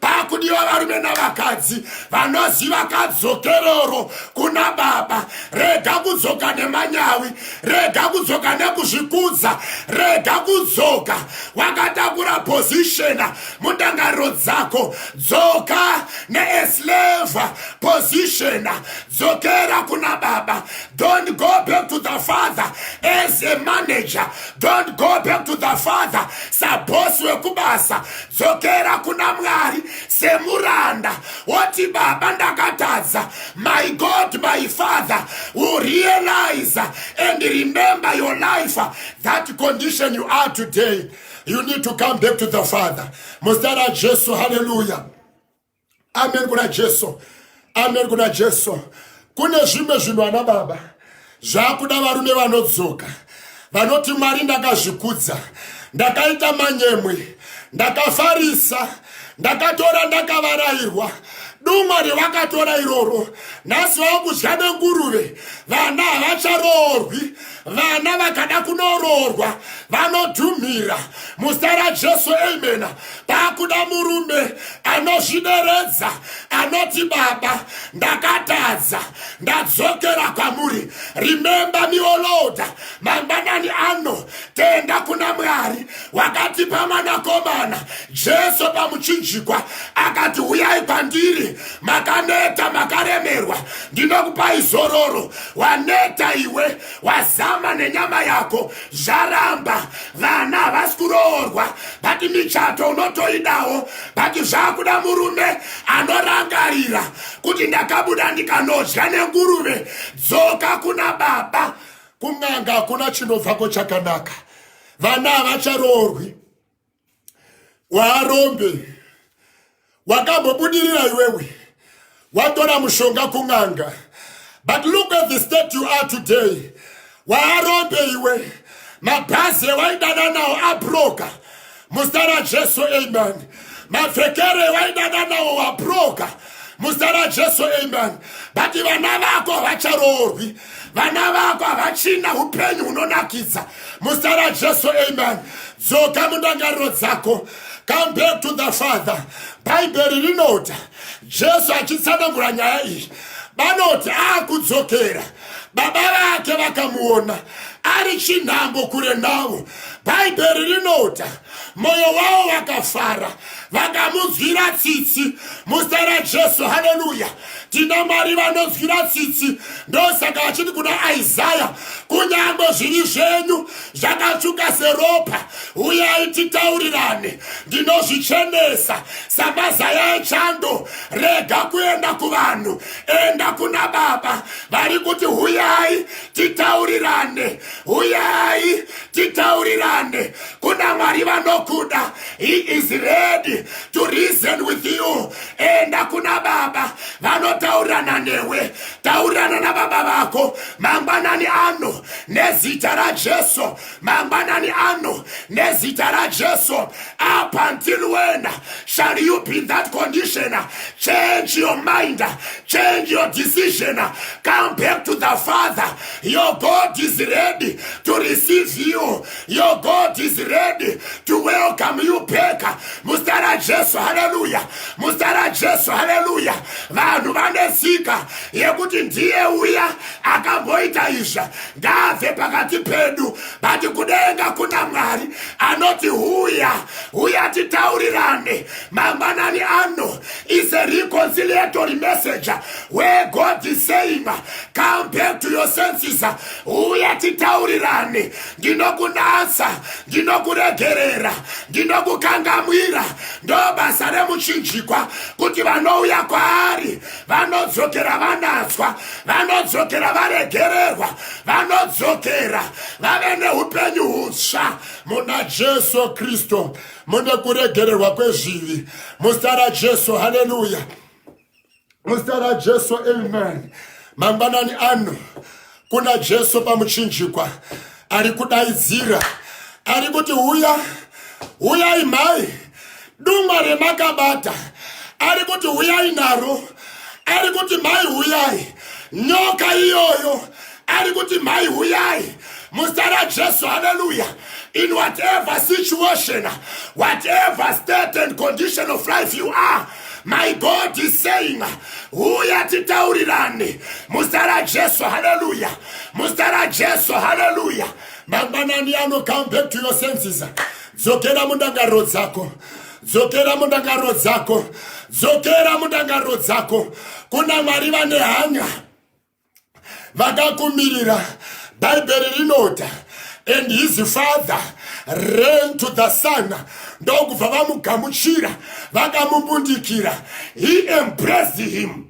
pakudiwa varume navakadzi vanoziva kadzokeroro kuna baba rega kudzoka nemanyawi rega kudzoka nekuzvikudza rega kudzoka wakatakura pozishena mundangariro dzako dzoka neesleva pozishena dzokera kuna baba don't go back to the father as a manager don't go back to the father sabosi wekubasa dzokera kuna mwari semuranda woti baba ndakatadza my god my father will realize and remember your life that condition you are today you need to come back to the father muzita rajesu haleluya amen kuna jesu amen kuna jesu kune zvimwe zvinhu ana baba zvakuda varume vanodzoka vanoti mwari ndakazvikudza ndakaita manyemwe ndakafarisa ndakatora ndakavarairwa dumwari vakatora iroro nhasi vakudya nenguruve vana havacharoorwi vana vakada kunoroorwa vanodhumhira muzita rajesu amena paakuda murume anozvideredza anoti baba ndakatadza ndadzokera kwamuri rimemba mioloda mangwanani ano tenda kuna mwari wakatipa mwanakomana jesu pamuchinjikwa akati huyai kwandiri makaneta makaremerwa ndinokupai zororo waneta iwe wazama nenyama yako zvaramba vana havasi kuroorwa bati michato unotoidawo bati zvakuda murume anorangarira kuti ndakabuda ndikanodya nenguruve dzoka kuna baba kun'anga hakuna chinobvako chakanaka vana havacharoorwi waarombe wakambobudirira iwewe watora mushonga kun'anga but look at the state you are today waarombe iwe mabhazi ewaidana nawo abroka muzita rajesu amen mapfekero ewaidana nawo wabroka muzita rajesu amen but vana vako havacharoorwi vana vako havachina upenyu hunonakidza muzita rajesu amen dzoka mundangariro dzako come back to the father bhaibheri rinoti jesu achitsanangura nyaya iyi vanoti akudzokera baba vake vakamuona ari chinhambo kure navo bhaibheri rinoti mwoyo wavo wakafara vakamunzwira tsitsi muzita rajesu haleluya tina mwari vanonzwira tsitsi ndosaka achiti kuna isaya kunyange zviri zvenyu zvakatsvuka seropa uyai titaurirane ndinozvichenesa samazaya echando rega kuenda kuvanhu enda kuna baba vari kuti huyai titaurirane huyai titaurirane kuna mwari vanokuda he is ready to reason with you enda kuna baba vanotaurirana newe taurirana nababa vako mangwanani ano nezita rajesu mangwanani ano nezita rajesu up until when shall you be in that condition change your mind change your decision come back to the father your god is ready to receive you Your God is ready to welcome you back. Mustara Jesu, hallelujah. Mustara Jesu, hallelujah. Vanhu vane sika yekuti ndiye uya akamboita izva ngave pakati pedu but kudenga kuna Mwari anoti huya huya titaurirane mangwanani ano is a reconciliatory message where God is saying come back to your senses huya titaurirane ndinokunatsa ndinokuregerera ndinokukangamwira ndo basa remuchinjikwa kuti vanouya kwaari vanodzokera vanatswa vanodzokera varegererwa vanodzokera vave neupenyu hutsva muna jesu kristu mune kuregererwa kwezvivi muzita rajesu haleluya muzita rajesu amen mangwanani ano kuna jesu pamuchinjikwa ari kudaidzira ari kuti huya huyai mhai dungwa remakabata ari kuti huyai naro ari kuti mhai huyai nyoka iyoyo ari kuti mhai huyai muzita rajesu haleluya in whatever situation whatever state and condition of life you are my god is saying huya titaurirane muzita rajesu haleluya muzita rajesu haleluya mangwanani ano come back to your senses dzokera mundangariro dzako dzokera mundangariro dzako dzokera mundangariro dzako kuna mwari vane hanya vakakumirira bhaibheri rinota and his father ran to the son ndokubva vamugamuchira vakamumbundikira he embraced him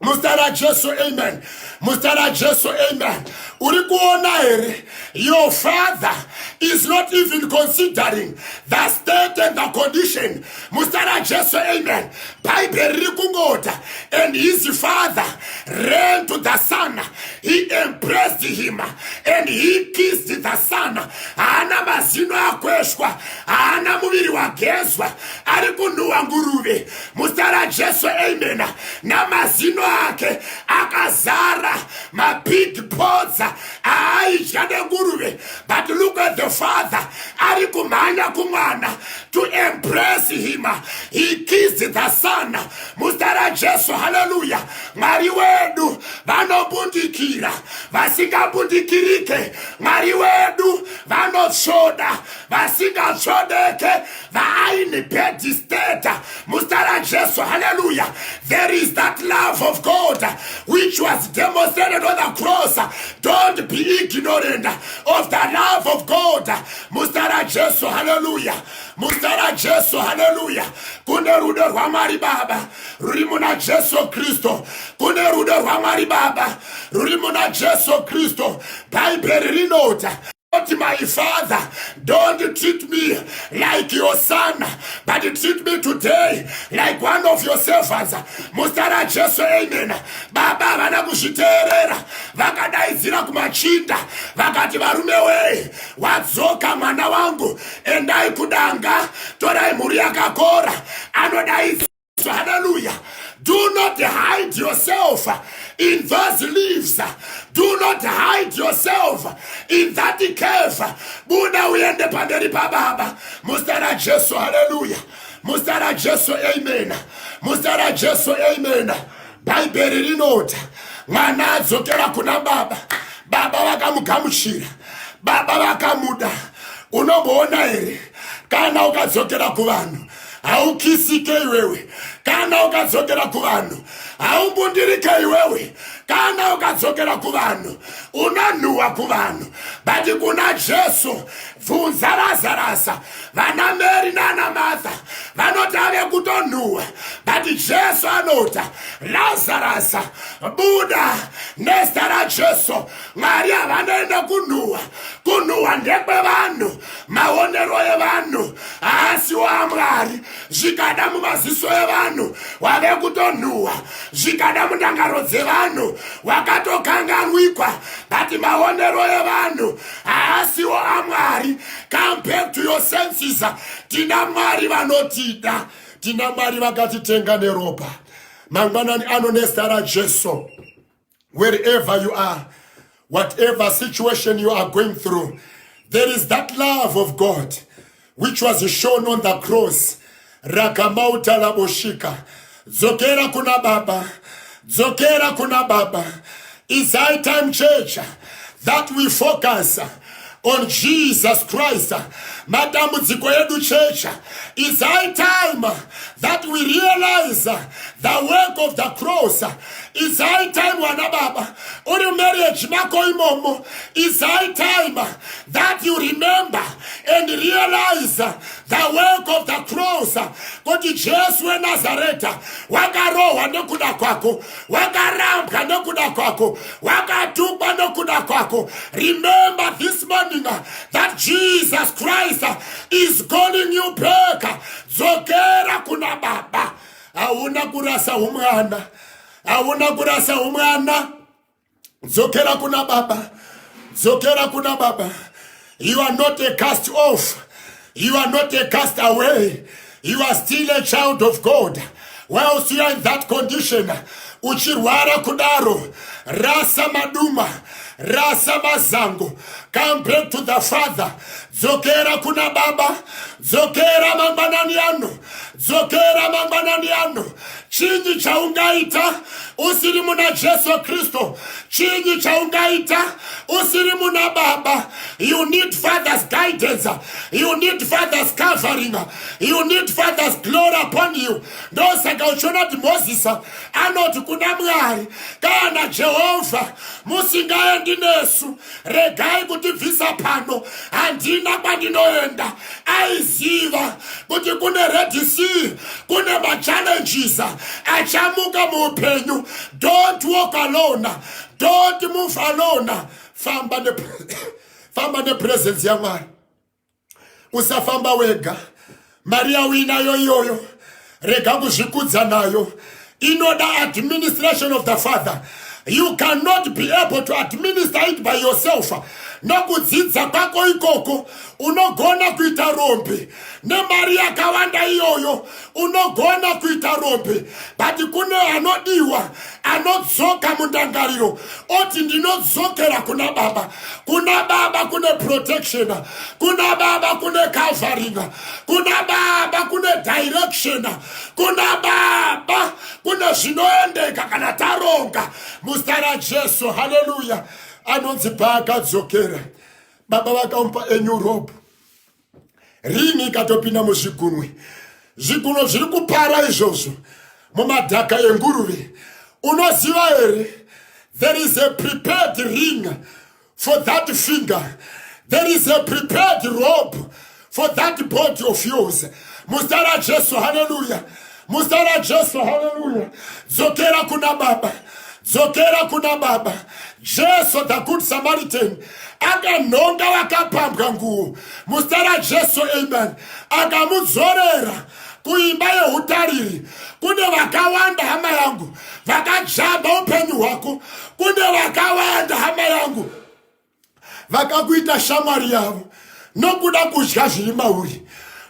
muzita rajesu amen muzita rajesu amen uri kuona here your father is not even considering the state and the condition muzita rajesu amen bhaibheri riri kungota and his father ran to the son he embraced him and he kissed the son haana mazino akweshwa haana muviri wagezwa ari kunhuhwa nguruve muzita rajesu amen namazino ake akazara mabig podza aaidya nenguruve but look at the father ari kumhanya kumwana to embrace him he kissed the son muzita rajesu haleluya mwari wedu vanobundikira vasingabundikirike mwari wedu vanotsvoda vasingatsvodeke vaaine bedisteta muzita rajesu haleluya there is that love of god which was demonstrated on the cross don't be ignorant of the love of god muzita rajesu haleluya muzita rajesu haleluya kune rudo rwamwari baba ruri muna jesu kristu kune rudo rwamwari baba ruri muna jesu kristu bhaibheri rinoti Not my father, don't treat me like your son, but treat me today like one of your servants. Muzita raJesu, amen. Baba havana kuzviteerera, vakadaidzira kumachinda vakati, varume wee, wadzoka mwana wangu endai kudanga torai mhuri yakakora anodaidzwa haleluya do not hide yourself in those leaves do not hide yourself in that cave buda uende pamberi pababa muzita rajesu haleluya muzita rajesu amen muzita rajesu amen bhaibheri rinoti mwana adzokera kuna baba baba vakamugamuchira baba vakamuda unomboona here kana ukadzokera kuvanhu haukisike iwewe kana ukadzokera kuvanhu haumbundirike iwewe kana ukadzokera kuvanhu unanhuhwa kuvanhu but kuna jesu bvunza razarasa vana mary nana martha vanoti ave kutonhuhwa but jesu anoti lazarus buda nezita rajesu mwari havanoende kunhuhwa kunhuhwa ndekwevanhu maonero evanhu haasi wamwari zvikada mumaziso evanhu wave kutonhuhwa zvikada mundangaro dzevanhu wakatokanganwikwa but maonero evanhu haasiwo amwari come back to your senses tina mwari vanotida tina mwari vakatitenga neropa mangwanani ano nezita rajesu wherever you are whatever situation you are going through there is that love of god which was shown on the cross rakamauta laboshika dzokera kuna baba dzokera kuna baba is high time church that we focus on jesus christ matambudziko edu church is high time that we realize the work of the cross It's high time, Wanababa, or your marriage, Makoimomo. It's high time that you remember and realize the work of the cross. Kuti Jesu weNazareta wakarohwa nekuda kwako, wakarambwa nekuda kwako, wakatukwa nekuda kwako. Remember this morning that Jesus Christ is calling you back. Dzokera kuna Baba. hauna kurasa umwana hauna kurasa umwana dzokera kuna baba dzokera kuna baba you are not a cast off you are not a cast away you are still a child of god whilst you are in that condition uchirwara kudaro rasa maduma rasa mazango come back to the father dzokera kuna baba dzokera mangwanani ano Dzokera mangwanani ano. Chinyi chaungaita usiri muna Jesu Kristu? Chinyi chaungaita usiri muna Baba? You need Father's guidance. You need Father's covering. You need Father's glory upon you. Ndosaka uchiona kuti Moses anoti kuna Mwari kana Jehovha musingaendi nesu regai kutibvisa pano handina kwandinoenda aiziva kuti kune redc kune machallenges achamuka muupenyu don't walk alone don't move alone famba ne famba nepresence yamwari usafamba wega mari yauinayo iyoyo rega kuzvikudza nayo inoda administration of the father you cannot be able to administer it by yourself nokudzidza kwako ikoko unogona kuita rombe nemari yakawanda iyoyo unogona kuita rombe but kune anodiwa anodzoka mundangariro oti ndinodzokera kuna baba kuna baba kune protection kuna baba kune covering kuna baba kune direction kuna baba kune zvinoendeka kana taronga muzita rajesu haleluya anonzi paakadzokera baba vakamupa enyu robe rini ikatopinda muzvigunwe zvigunwe zviri kupara izvozvo mumadhaka enguruve unoziva here there is a prepared ring for that finger there is a prepared rope for that body of yours muzita rajesu haleluya muzita rajesu haleluya dzokera kuna baba dzokera kuna baba jesu the good samaritan akanhonga vakapambwa nguo muzita rajesu amen akamudzorera kuimba yeutariri kune vakawanda hama yangu vakajamba upenyu hwako kune vakawanda hama yangu vakakuita shamwari yavo nokuda kudya zviri mauri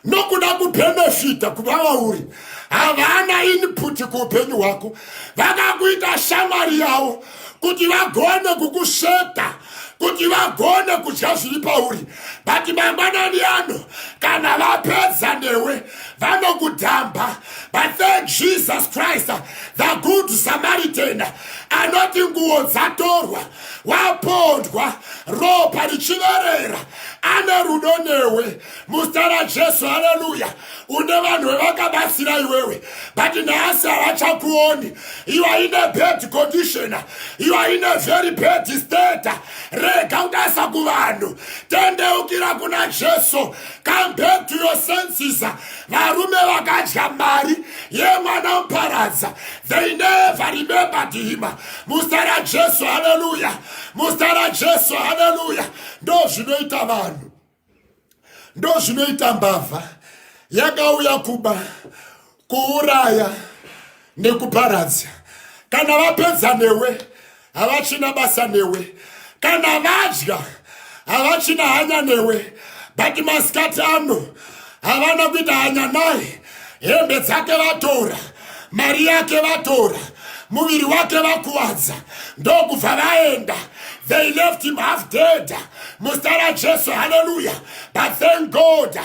nokuda kubhenefita kuva vauri havana input kuupenyu hwako vakakuita shamwari yavo kuti vagone kukusveta kuti vagone kudya zviri pauri but mangwanani ano kana vapedza newe vanokudhamba but thank jesus christ the good samaritan anoti nguo dzatorwa wapondwa ropa richiverera ane rudo newe muzita rajesu haleluya une vanhu vevakabatsira iwewe but nhasi havachakuoni you are in a bad condition you are in a very bad state rega kudasa kuvanhu tendeukira kuna jesu come back to your senses varume vakadya mari yemwana muparadza they never remembered him muzita rajesu haleluya muzita rajesu haleluya ndo zvinoita vanhu ndo zvinoita mbavha yakauya kuba kuuraya nekuparadza kana vapedza newe havachina basa newe kana vadya havachina hanya newe but masikati ano havana kuita hanya naye hembe dzake vatora mari yake vatora muviri wake vakuwadza ndokubva vaenda they left him half dead muzita rajesu haleluya but thank god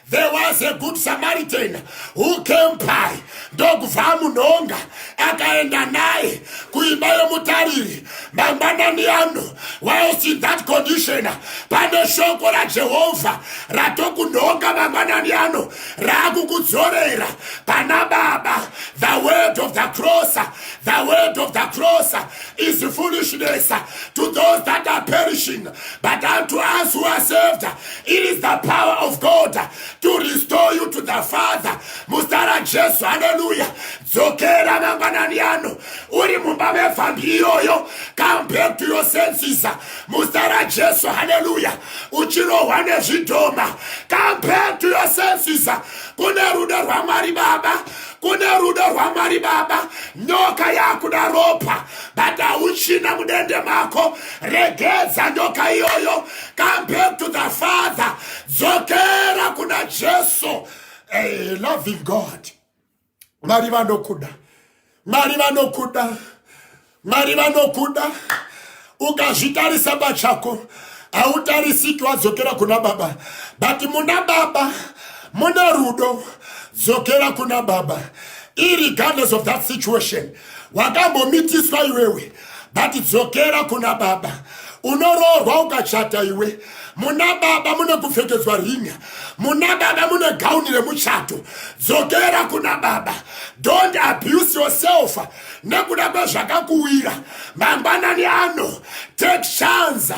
There was a good Samaritan who came by ndokubva amunhonga akaenda naye kuimba yemutariri mangwanani ano whilst in that condition pane shoko rajehovha ratokunhonga mangwanani ano raakukudzorera pana baba the word of the cross the word of the cross is foolishness to those that are perishing but unto us who are saved It is the power of God to restore you to the Father. Mustara Jesu, hallelujah. Dzokera mangwanani ano. Uri mumba mevhambi iyoyo. Come back to your senses. Mustara Jesu, hallelujah. Uchirohwa nezvidhoma. Come back to your senses. Kune rudo rwaMwari Baba. kune rudo rwamwari baba nyoka yakuda ropa but hauchina mudende mako regedza nyoka iyoyo come back to the father dzokera kuna jesu hey, eh, loving god mwari vanokuda mwari vanokuda mwari vanokuda ukazvitarisa pachako hautarisiki wadzokera kuna baba but muna baba mune rudo dzokera kuna baba irregardless of that situation wakambomitiswa iwewe but dzokera kuna baba unoroorwa ukachata iwe muna baba mune kupfekedzwa ringa muna baba mune gauni remuchato dzokera kuna baba don't abuse yourself nekuda kwezvakakuwira mangwanani ano take shanza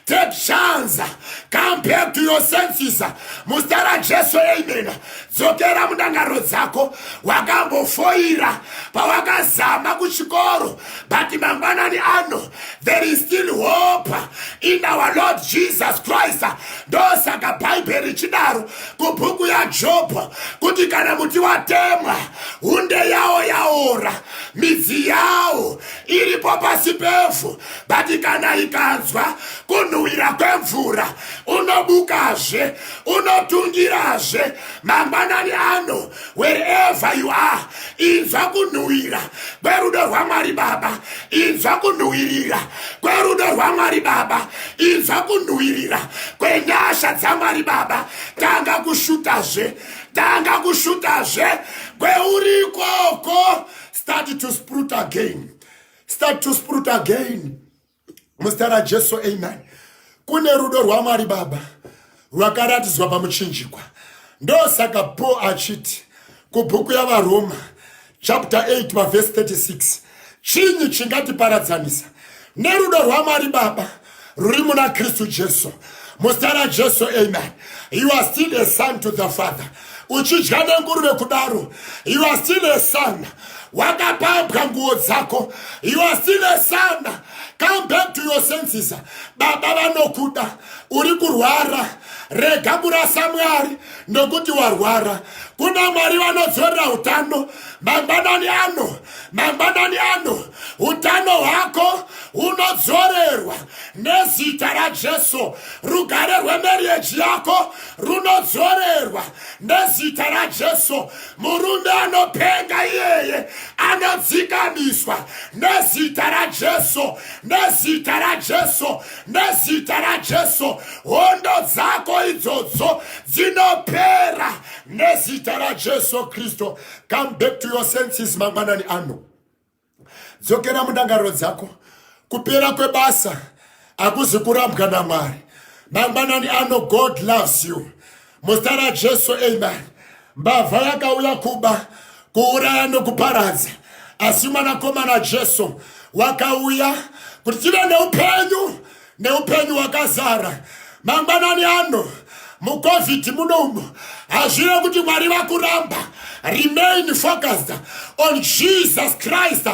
take shanza come back to your senses muzita rajesu amen dzokera mundangariro dzako wakambofoira pawakazama kuchikoro but mangwanani ano there is still hope in our lord jesus christ ndosaka bhaibheri richidaro kubhuku yajob kuti kana muti watemwa hunde yawo yaora midzi yawo iripo pasi pevhu but kana ikanzwa kunhuhwira kwemvura unobukazve unotungirazve mangwanani ano wherever you are inzwa kunhuwira kwerudo rwamwari baba inzwa kunhuwirira kwerudo rwamwari baba inzwa kunhuwirira kwenyasha dzamwari baba tanga kushutazve tanga kushutazve kweuri ikoko start to sprut again start to sprut again muzita rajesu amen kune rudo rwamwari baba rwakaratidzwa pamuchinjikwa ndosaka paul achiti kubhuku yavaroma chapter 8 pavhesi 36 chinyi chingatiparadzanisa nerudo rwamwari baba ruri muna kristu jesu muzita rajesu amen you are still a son to the father uchidya nenguruve kudaro you are still a son wakapambwa nguo dzako you are still a son come back to your senses baba vanokuda uri kurwara rega kurasa mwari nokuti warwara kuna mwari vanodzorera utano mangwanani ano mangwanani ano utano hwako hunodzorerwa nezita rajesu rugare rwemerieji yako runodzorerwa nezita rajesu murume anopenga iyeye anodzikamiswa nezita rajesu nezita rajesu nezita rajesu hondo dzako idzodzo dzinopera nezita rajesu kristu come back to your senses mangwanani ano dzokera mundangariro dzako kupera kwebasa hakuzi kurambwa namwari mangwanani ano god loves you muzita rajesu amen mbavha yakauya kuba kuuraya nokuparadza asi mwanakomana jesu wakauya kuti tive neupenyu neupenyu hwakazara mangwanani ano mucovid munomu hazvive kuti mwari vakuramba remain focused on jesus christ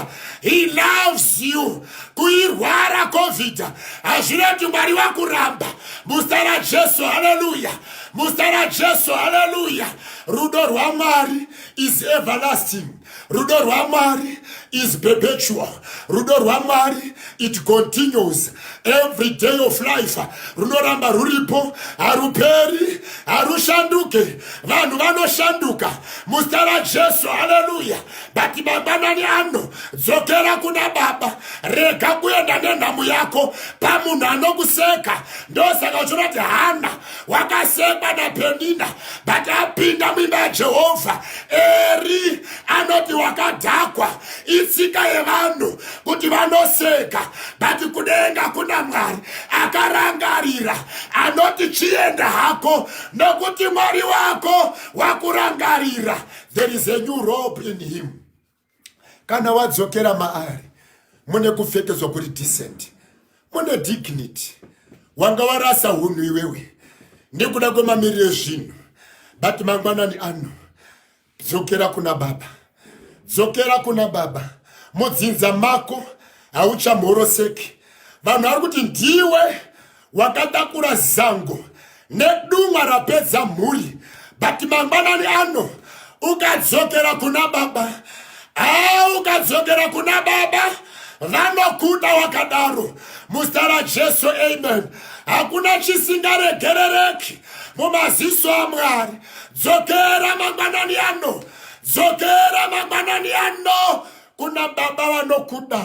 he loves you kuirwara covid hazvive kuti mwari vakuramba musta rajesu haleluya musta rajesu haleluya rudo rwamwari is everlasting rudo rwamwari is perpetual rudo rwamwari it continues every day of life runoramba ruripo haruperi harushanduke vanhu vanoshanduka muzita rajesu haleluya but mangwanani ano dzokera kuna baba rega kuenda nenhamo yako pamunhu anokuseka ndosaka uchinoti hana wakasekwa napenina but apinda muimba yajehovha eri anoti wakadhakwa itsika yevanhu kuti vanoseka but kudenga kuna mwari akarangarira anoti chienda hako nokuti mwari wako wakurangarira there is a new rope in him kana wadzokera maari mune kupfekedzwa kuri decent mune dignity wanga warasa hunhu iwewe nekuda kwemamiriro ezvinhu but mangwanani ano dzokera kuna baba dzokera kuna baba mudzinza mako hauchamhoroseki vanhu vari kuti ndiwe wakatakura zango nedumwa rapedza mhuri but mangwanani ano ukadzokera kuna baba haa ah, ukadzokera kuna baba vanokuda wakadaro muzita rajesu amen hakuna chisingaregerereki mumaziso amwari dzokera mangwanani ano dzokera mangwanani ano kuna baba vanokuda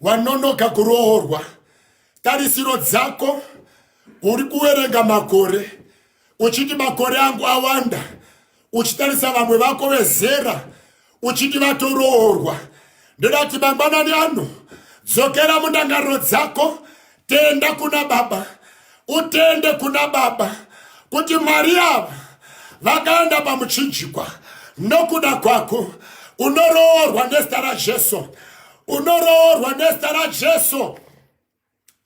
wanonoka kuroorwa tarisiro dzako uri kuwerenga makore uchiti makore angu awanda uchitarisa vamwe vako vezera uchiti vatoroorwa ndoda kuti mangwanani ano dzokera mundangariro dzako tenda kuna baba utende kuna baba kuti mwari ava vakaenda pamuchinjikwa nokuda kwako unoroorwa nezita rajesu unoroorwa nezita rajesu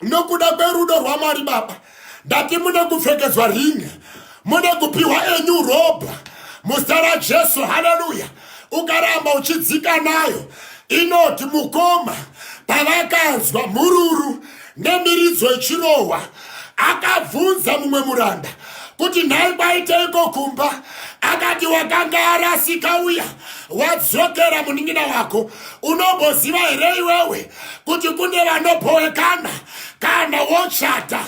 nokuda kwerudo rwamwari baba ndati mune kupfekedzwa ringi mune kupiwa enyu ropa muzita rajesu haleluya ukaramba uchidzika nayo inoti mukoma pavakanzwa mhururu nemiridzo ichirohwa akabvunza mumwe muranda kuti nhai kwaiteiko kumba akati wakanga arasika uya wadzokera munin'ina wako unomboziva here iwewe kuti kune vanobhowekana kana wochata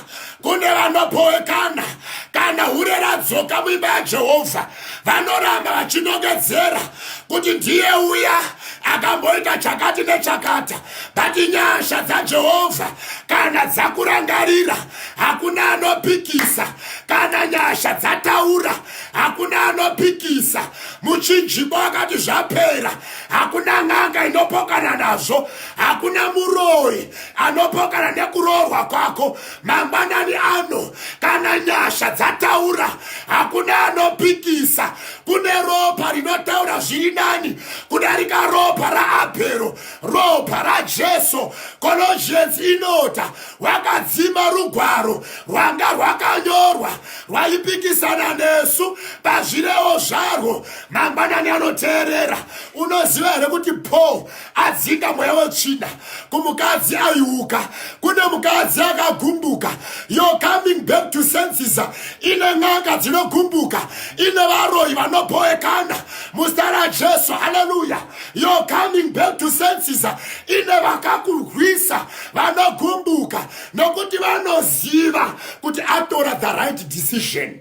kune vanobhowekana kana hure radzoka muimba yajehovha vanoramba vachinongedzera kuti ndiye uya akamboita chakati nechakata but nyasha dzajehovha kana dzakurangarira hakuna anopikisa kana nyasha dzataura hakuna anopikisa muchinjiko akati zvapera hakuna n'anga inopokana nazvo hakuna muroyi anopokana nekuroorwa kwako mangwanani ano kana nyasha dzataura hakuna anopikisa kune ropa rinotaura zviri nani kudarika ropa raabhero ropa rajesu cologians inota wakadzima rugwaro rwanga rwakanyorwa rwaipikisana nesu pazvirewo zvarwo mangwanani anoteerera unoziva here kuti paul adzinga mweya wetsvina kumukadzi aiuka kune mukadzi akagumbuka yo coming back to senses ine n'anga dzinogumbuka ine varoyi vanoboekana muzita rajesu haleluya yo coming back to senses ine vakakurwisa vanogumbuka nokuti vanoziva kuti atora the right decision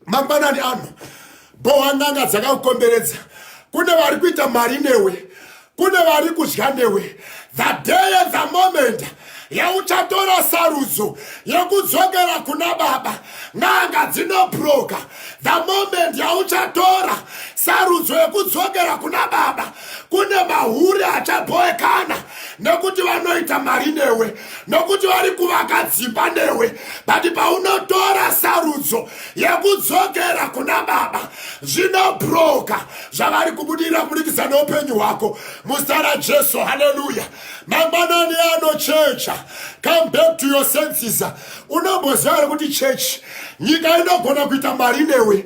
mangwanani ano bohwa n'anga dzakakukomberedza kune vari kuita mari newe kune vari kudya newe the day and the moment yauchatora sarudzo yekudzokera kuna baba n'anga dzinobroka the moment yauchatora sarudzo yekudzokera kuna baba kune mahure achabhoekana nokuti vanoita mari newe nokuti vari kuvaka dzimba newe but paunotora sarudzo yekudzokera kuna baba zvinobroka zvavari kubudirira kuburikidza neupenyu hwako muzita rajesu haleluya mangwanani anochecha come back to your senses unomboziva here kuti chechi nyika inogona kuita mari newe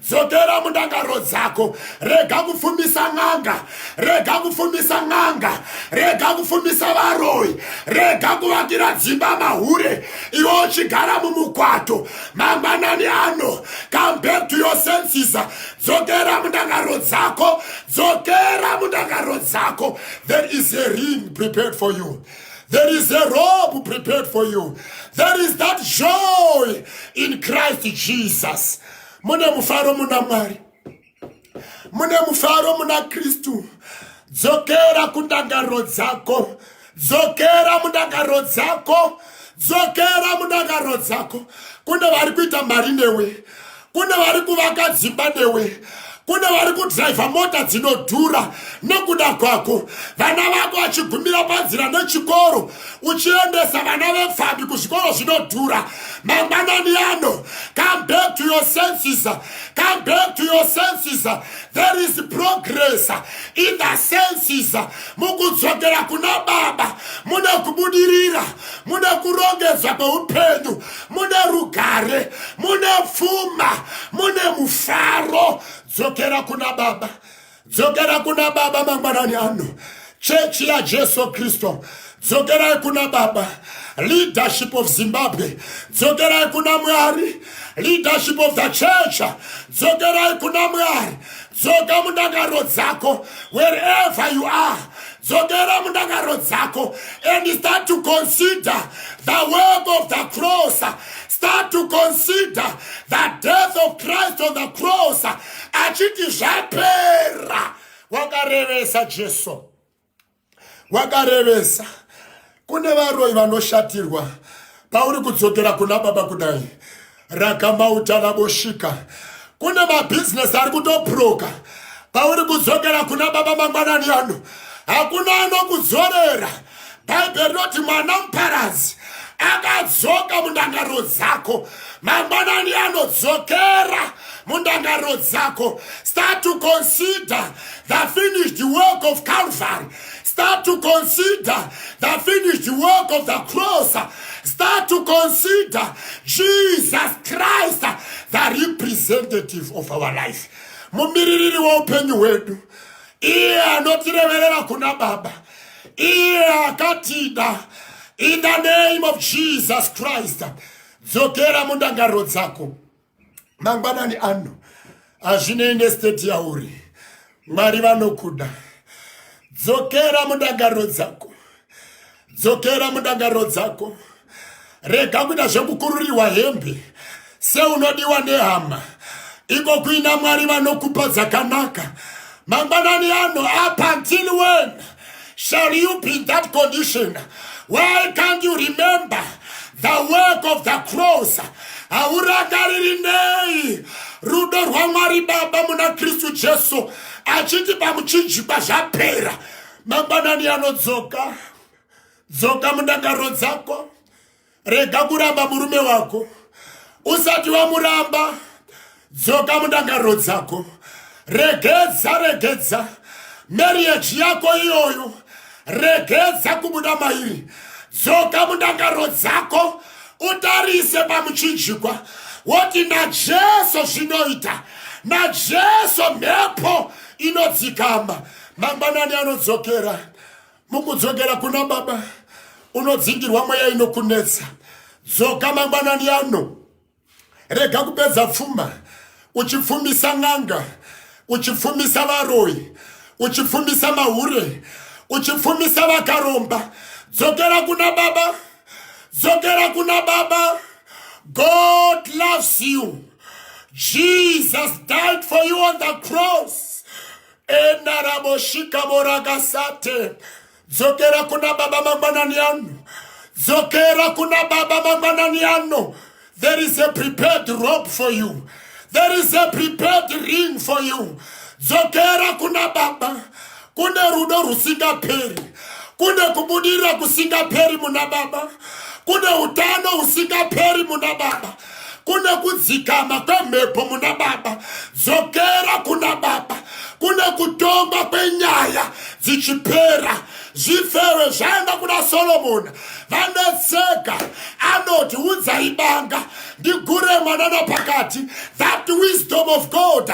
dzokera mundangaro dzako rega kufumisa n'anga rega kufumisa n'anga rega kufumisa varoyi rega kuvakira dzimba mahure iwe uchigara mumukwato mangwanani ano come back to your senses dzokera mundangaro dzako dzokera mundangaro dzako there is a ring prepared for you There is a robe prepared for you. There is that joy in Christ Jesus. mune mufaro muna mwari mune mufaro muna kristu dzokera kundangariro dzako dzokera mundangariro dzako dzokera mundangariro dzako kune vari kuita mari newe kune vari kuvaka dzimba newe kune vari kudhraivha mota dzinodhura nokuda kwako vana vako vachigumira panzira nechikoro uchiendesa vana vepfambi kuzvikoro zvinodhura mangwanani ano come back to your senses come back to your senses there is progress in the senses mukudzokera kuna baba mune kubudirira mune kurongedzwa kweupenyu mune rugare mune pfuma mune mufaro dzokera kuna baba dzokera kuna baba mangwanani ano chechi yajesu kristu dzokerai kuna baba leadership of zimbabwe dzokerai kuna mwari leadership of the church dzokerai kuna mwari dzoka mundakaro dzako wherever you are dzokera mundakaro dzako and start to consider the work of the cross start to consider the death of christ on the cross achiti zvapera wakarevesa jesu wakarevesa kune varoyi vanoshatirwa pauri kudzokera kuna baba kudai rakamauta raboshika kune mabhizinesi ari kutopuroka pauri kudzokera kuna baba mangwanani ano hakuna anokudzorera bhaibheri rinoti mwana muparadzi akadzoka mundangariro dzako mangwanani anodzokera mundangariro dzako start to consider the finished work of Calvary. Start to consider the finished work of the cross. Start to consider Jesus Christ, the representative of our life. Mumiririri waupenyu hwedu, iye anotireverera kuna Baba, iye akatida. In the name of Jesus Christ, dzokera mundangariro dzako. mangwanani ano hazvinei nesteti yauri mwari vanokuda dzokera mundangariro dzako dzokera mundangariro dzako rega kuita zvekukururirwa hembe seunodiwa nehama iko kuina mwari vanokupa dzakanaka mangwanani ano up until when Shall you be in that condition? Why can't you remember the work of the cross? Haurangariri nei rudo rwaMwari Baba muna Kristu Jesu achiti pamuchinjikwa zvapera mangwanani anodzoka dzoka mudakaro dzako rega kuramba murume wako usati wamuramba dzoka mundangariro dzako regedza regedza marriage yako iyoyo regedza kubuda mairi dzoka mundangariro dzako utarise pamuchinjikwa woti najesu zvinoita najesu mhepo inodzikama mangwanani anodzokera mukudzokera kuna baba unodzingirwa mweya inokunetsa dzoka mangwanani ano rega kupedza pfuma uchipfumisa n'anga uchipfumisa varoyi uchipfumisa mahure uchipfumisa vakaromba dzokera kuna baba dzokera kuna baba god loves you jesus died for you on the cross enaraboshika vorakasate dzokera kuna baba mangwanani ano dzokera kuna baba mangwanani ano there is a prepared rope for you there is a prepared ring for you dzokera kuna baba kune rudo rusingaperi kune kubudirira kusingaperi muna baba kune utano usingaperi muna baba kune kudzikama kwemhepo muna baba dzokera kuna baba kune kutongwa kwenyaya dzichipera zvifewe zvaenda kuna solomoni vanetseka anoti udzai banga ndigure mwanana pakati that wisdom of god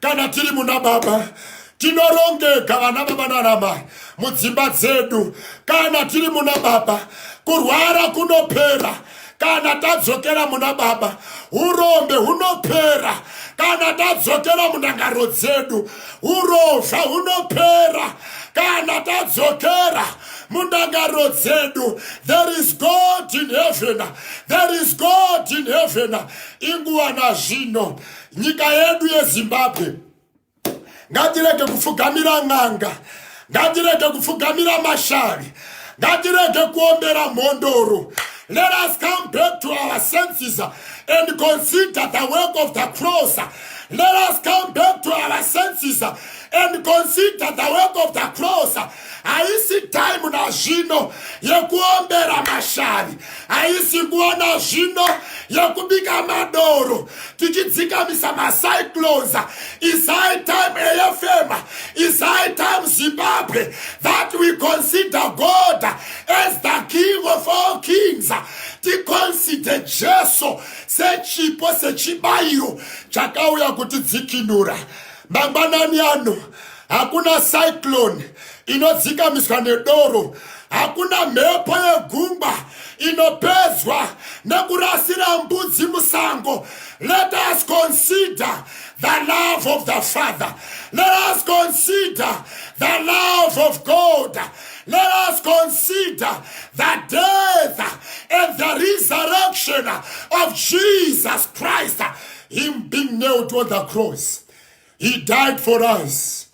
kana tiri muna baba tinorongeka vana baba nanamai mudzimba dzedu kana tiri muna baba kurwara kunopera kana tadzokera muna baba urombe hunopera kana tadzokera munangaro dzedu urovha hunopera kana tadzokera mundangaro dzedu there is god in heaven there is god in heaven inguva nazvino nyika yedu yezimbabwe ngatirege kupfugamira n'anga ngatirege kupfugamira mashavi ngatirege kuombera mhondoro let us come back to our senses and consider the work of the cross let us come back to our senses and consider the work of the cross haisi time nazvino yekuombera mashavi haisi nguva nazvino yekubika madoro tichidzikamisa macyclones is high time afm is high time zimbabwe that we consider god as the king of all kings ticonsider jesu sechipo sechibayiro chakauya kutidzikinura mangwanani ano hakuna cyclone inodzikamiswa nedoro hakuna mhepo yegungwa inopedzwa nekurasira mbudzi musango let us consider the love of the father let us consider the love of god let us consider the death and the resurrection of jesus christ him being nailed on the cross He died for us.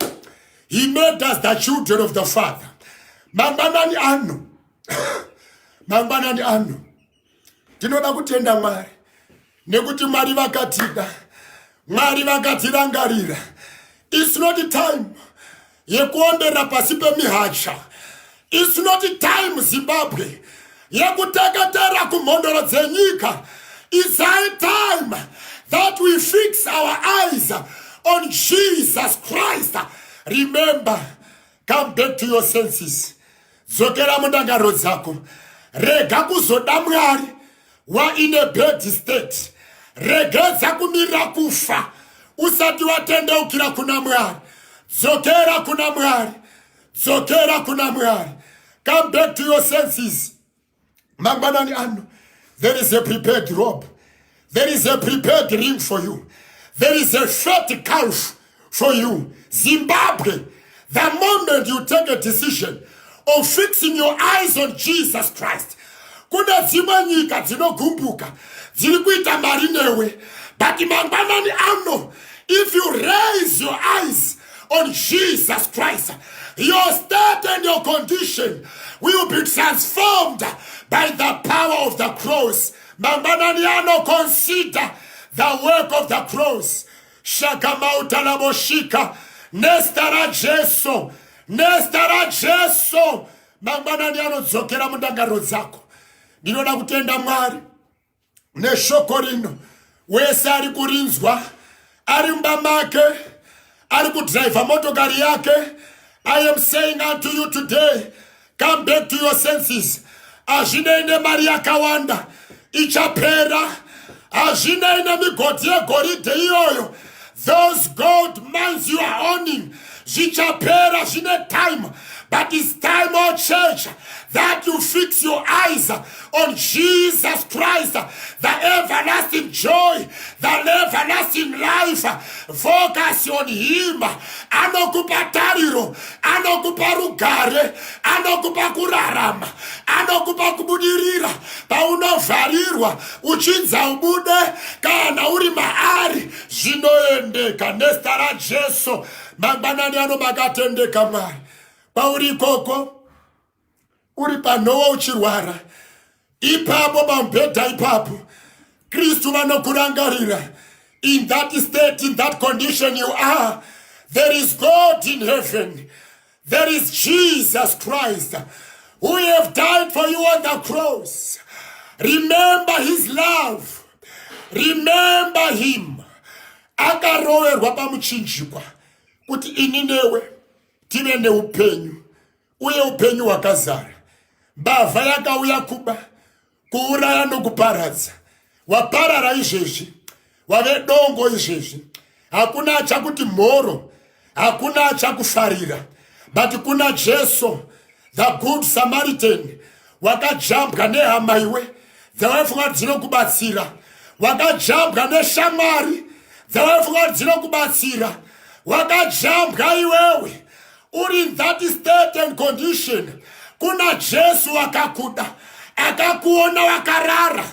He made us the children of the Father. Mangwanani ano. Mangwanani ano. Tinoda kutenda Mwari. Nekuti Mwari vakatida. Mwari vakatirangarira. It's not time. yekuombera pasi pemihacha its not time zimbabwe yekuteketera kumhondoro dzenyika its high time that we fix our eyes on jesus christ remember come back to your senses dzokera mundangariro dzako rega kuzoda mwari waine bad state regedza kumirira kufa usati watendeukira kuna mwari dzokera kuna mwari dzokera kuna mwari come back to your senses mangwanani ano there is a prepared robe there is a prepared ring for you there is a fat calf for you zimbabwe the moment you take a decision of fixing your eyes on jesus christ kune dzimwe nyika dzinogumbuka dziri kuita mari newe but mangwanani ano if you raise your eyes on Jesus Christ. Your state and your condition will be transformed by the power of the cross. Mambananiano consider the work of the cross. Shakamauta laboshika. Nestara Jesu. Nestara Jesu. Mambananiano dzokera mundangariro dzako. Ndinoda kutenda Mwari. neshoko rino wese ari kurinzwa ari mumba make ari kudhiraivha motokari yake i am saying unto you today come back to your senses hazvinei nemari yakawanda ichapera hazvinei nemigodhi yegoridhe iyoyo those gold mines you are owning zvichapera zvine time but its time o church that you fix your eyes on jesus christ the everlasting joy the everlasting life focus on him anokupa tariro anokupa rugare anokupa kurarama anokupa kubudirira paunovharirwa uchinza ubude kana uri maari zvinoendeka nezita rajesu mangwanani ano makatendeka mwari pauri ikoko uri panhowa uchirwara ipapo pamubhedha ipapo kristu vanokurangarira in that state in that condition you are there is god in heaven There is Jesus Christ who have died for you on the cross. Remember his love. Remember him. Akaroverwa pamuchinjikwa kuti ini newe tive neupenyu uye upenyu hwakazara. Mbavha yakauya kuba kuuraya nokuparadza waparara izvezvi wave dongo izvezvi hakuna achakuti mhoro hakuna achakufarira but kuna jesu the good samaritan wakajambwa nehama iwe dzawaifunga kuti dzinokubatsira wakajambwa neshamwari dzawaifunga kuti dzinokubatsira wakajambwa iwewe uri in that state and condition kuna jesu wakakuda akakuona wakarara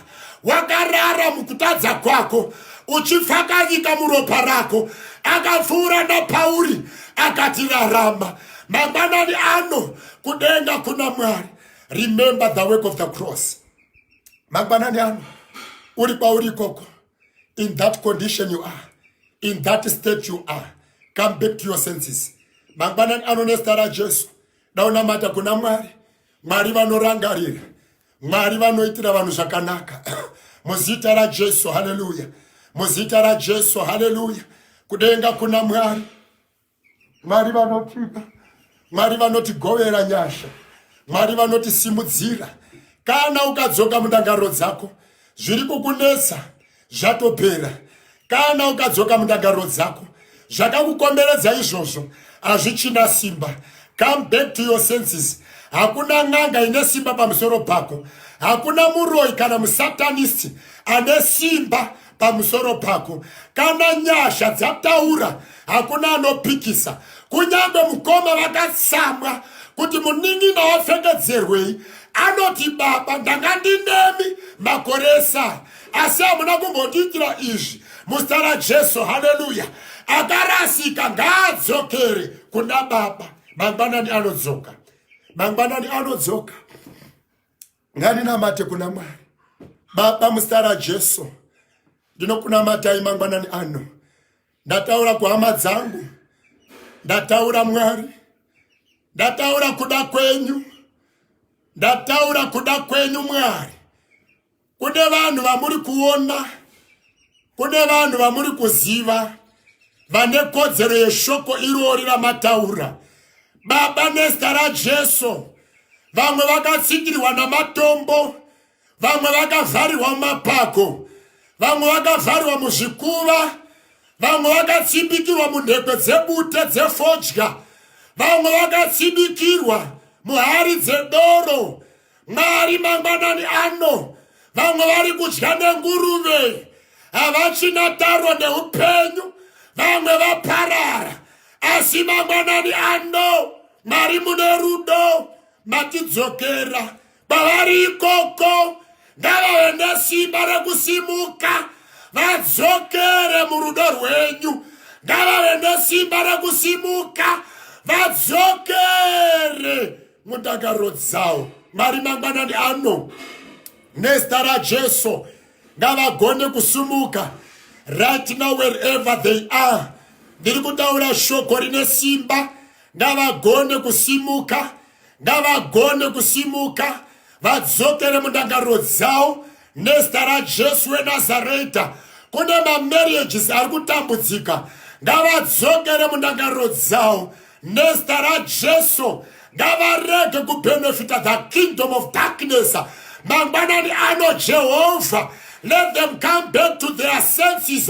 wakarara mukutadza kwako uchipfakanyika muropa rako akapfuura napauri akati rarama mangwanani ano kudenga kuna mwari remember the work of the cross mangwanani ano uri kwauri ikoko in that condition you are in that state you are come back to your senses mangwanani ano nezita rajesu daunamata kuna mwari mwari vanorangarira mwari vanoitira vanhu zvakanaka muzita rajesu haleluya muzita rajesu haleluya kudenga kuna mwari Mwari vanotipa, Mwari vanotigovera nyasha, Mwari vanotisimudzira. Kana ukadzoka mundangariro dzako, zviri kukunetsa zvatopera. Kana ukadzoka mundangariro dzako, zvakakukomberedza izvozvo hazvichina simba. Come back to your senses. Hakuna n'anga ine simba pamusoro pako. Hakuna muroyi kana musatanisti ane simba pamusoro pako kana nyasha dzataura hakuna anopikisa kunyange mukoma vakatsamwa kuti munin'ina wapfekedzerwei anoti baba ndanga ndinemi makore esara asi hamuna kumbotiitira izvi muzita rajesu haleluya akarasika ngaadzokere kuna baba mangwanani anodzoka mangwanani anodzoka ngandinamate kuna mwari baba muzita rajesu ndinokunamatai mangwanani ano ndataura kuhama dzangu ndataura mwari ndataura kuda kwenyu ndataura kuda kwenyu mwari kune vanhu vamuri kuona kune vanhu vamuri kuziva vane kodzero yeshoko irori ramataura baba nezita rajesu vamwe vakatsindirirwa namatombo vamwe vakavharirwa mumapako vamwe vakavharirwa muzvikuva vamwe vakatsibikirwa munhekwe dzebute dzefodya vamwe vakatsibikirwa muhari dzedoro Mwari mangwanani ano vamwe vari kudya nenguruve havachina taro neupenyu vamwe vaparara asi mangwanani ano mwari mune rudo matidzokera kwavari ikoko ngavave nesimba rekusimuka vadzokere murudo rwenyu ngavave nesimba rekusimuka vadzokere mudakaro dzawo mwari mangwanani ano nezita rajesu ngavagone kusumuka right now wherever they are ndiri kutaura shoko rine simba ngavagone kusimuka ngavagone kusimuka vadzokere mundangariro dzavo nezita rajesu wenazareta kune mamarriages ari kutambudzika ngavadzokere mundangariro dzavo nezita rajesu ngavarege kubenefita the kingdom of darkness mangwanani ano jehovha let them come back to their senses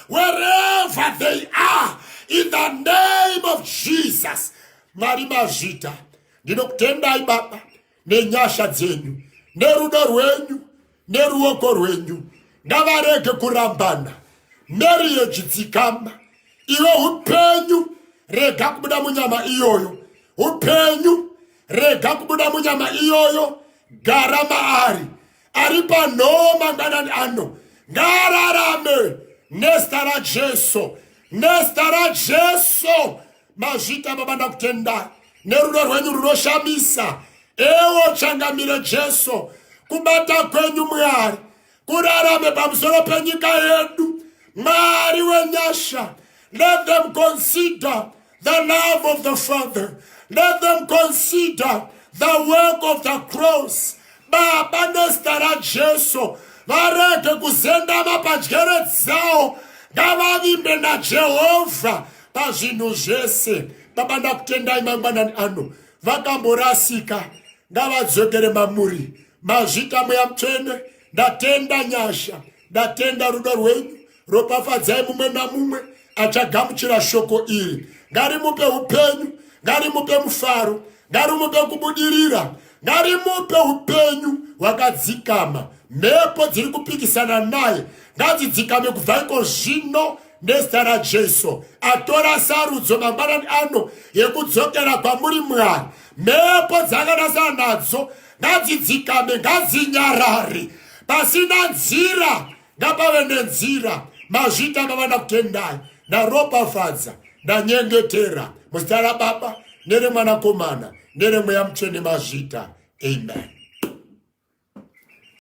wherever they are in the name of jesus mwari mazvita ndinokutendai baba nenyasha dzenyu nerudo rwenyu neruoko rwenyu ngavarege kurambana meri yechitsikamba iwe upenyu rega kubuda munyama iyoyo upenyu rega kubuda munyama iyoyo gara maari ari panhoo mangwanani ano ngaararame nezita rajesu nezita rajesu mazvita baba ndakutendai nerudo rwenyu runoshamisa ewo changamire jesu kubata kwenyu mwari kurarame pamusoro penyika yedu mwari wenyasha let them consider the love of the Father. Let them consider the work of the cross. Baba nezita raJesu varege kuzendama padyere dzawo ngavavimbe naJehovha pazvinhu zvese. Baba ndakutendai mangwanani ano vakamborasika ngavadzokere mamuri mazvita mweya mutsvene ndatenda nyasha ndatenda rudo rwenyu ropafadzai mumwe namumwe achagamuchira shoko iri ngarimupe upenyu ngarimupe mufaro ngarimupe kubudirira ngarimupe upenyu hwakadzikama mhepo dziri kupikisana naye ngadzidzikame kubva iko zvino nezita rajesu atora sarudzo mangwanani ano yekudzokera kwamuri mwari mhepo dzakanasana nadzo ngadzidzikame ngadzinyarare pasina nzira ngapave nenzira mazvita mavana kutendai ndaropafadza ndanyengetera muzita rababa neremwanakomana neremweya mutsvene mazvita amen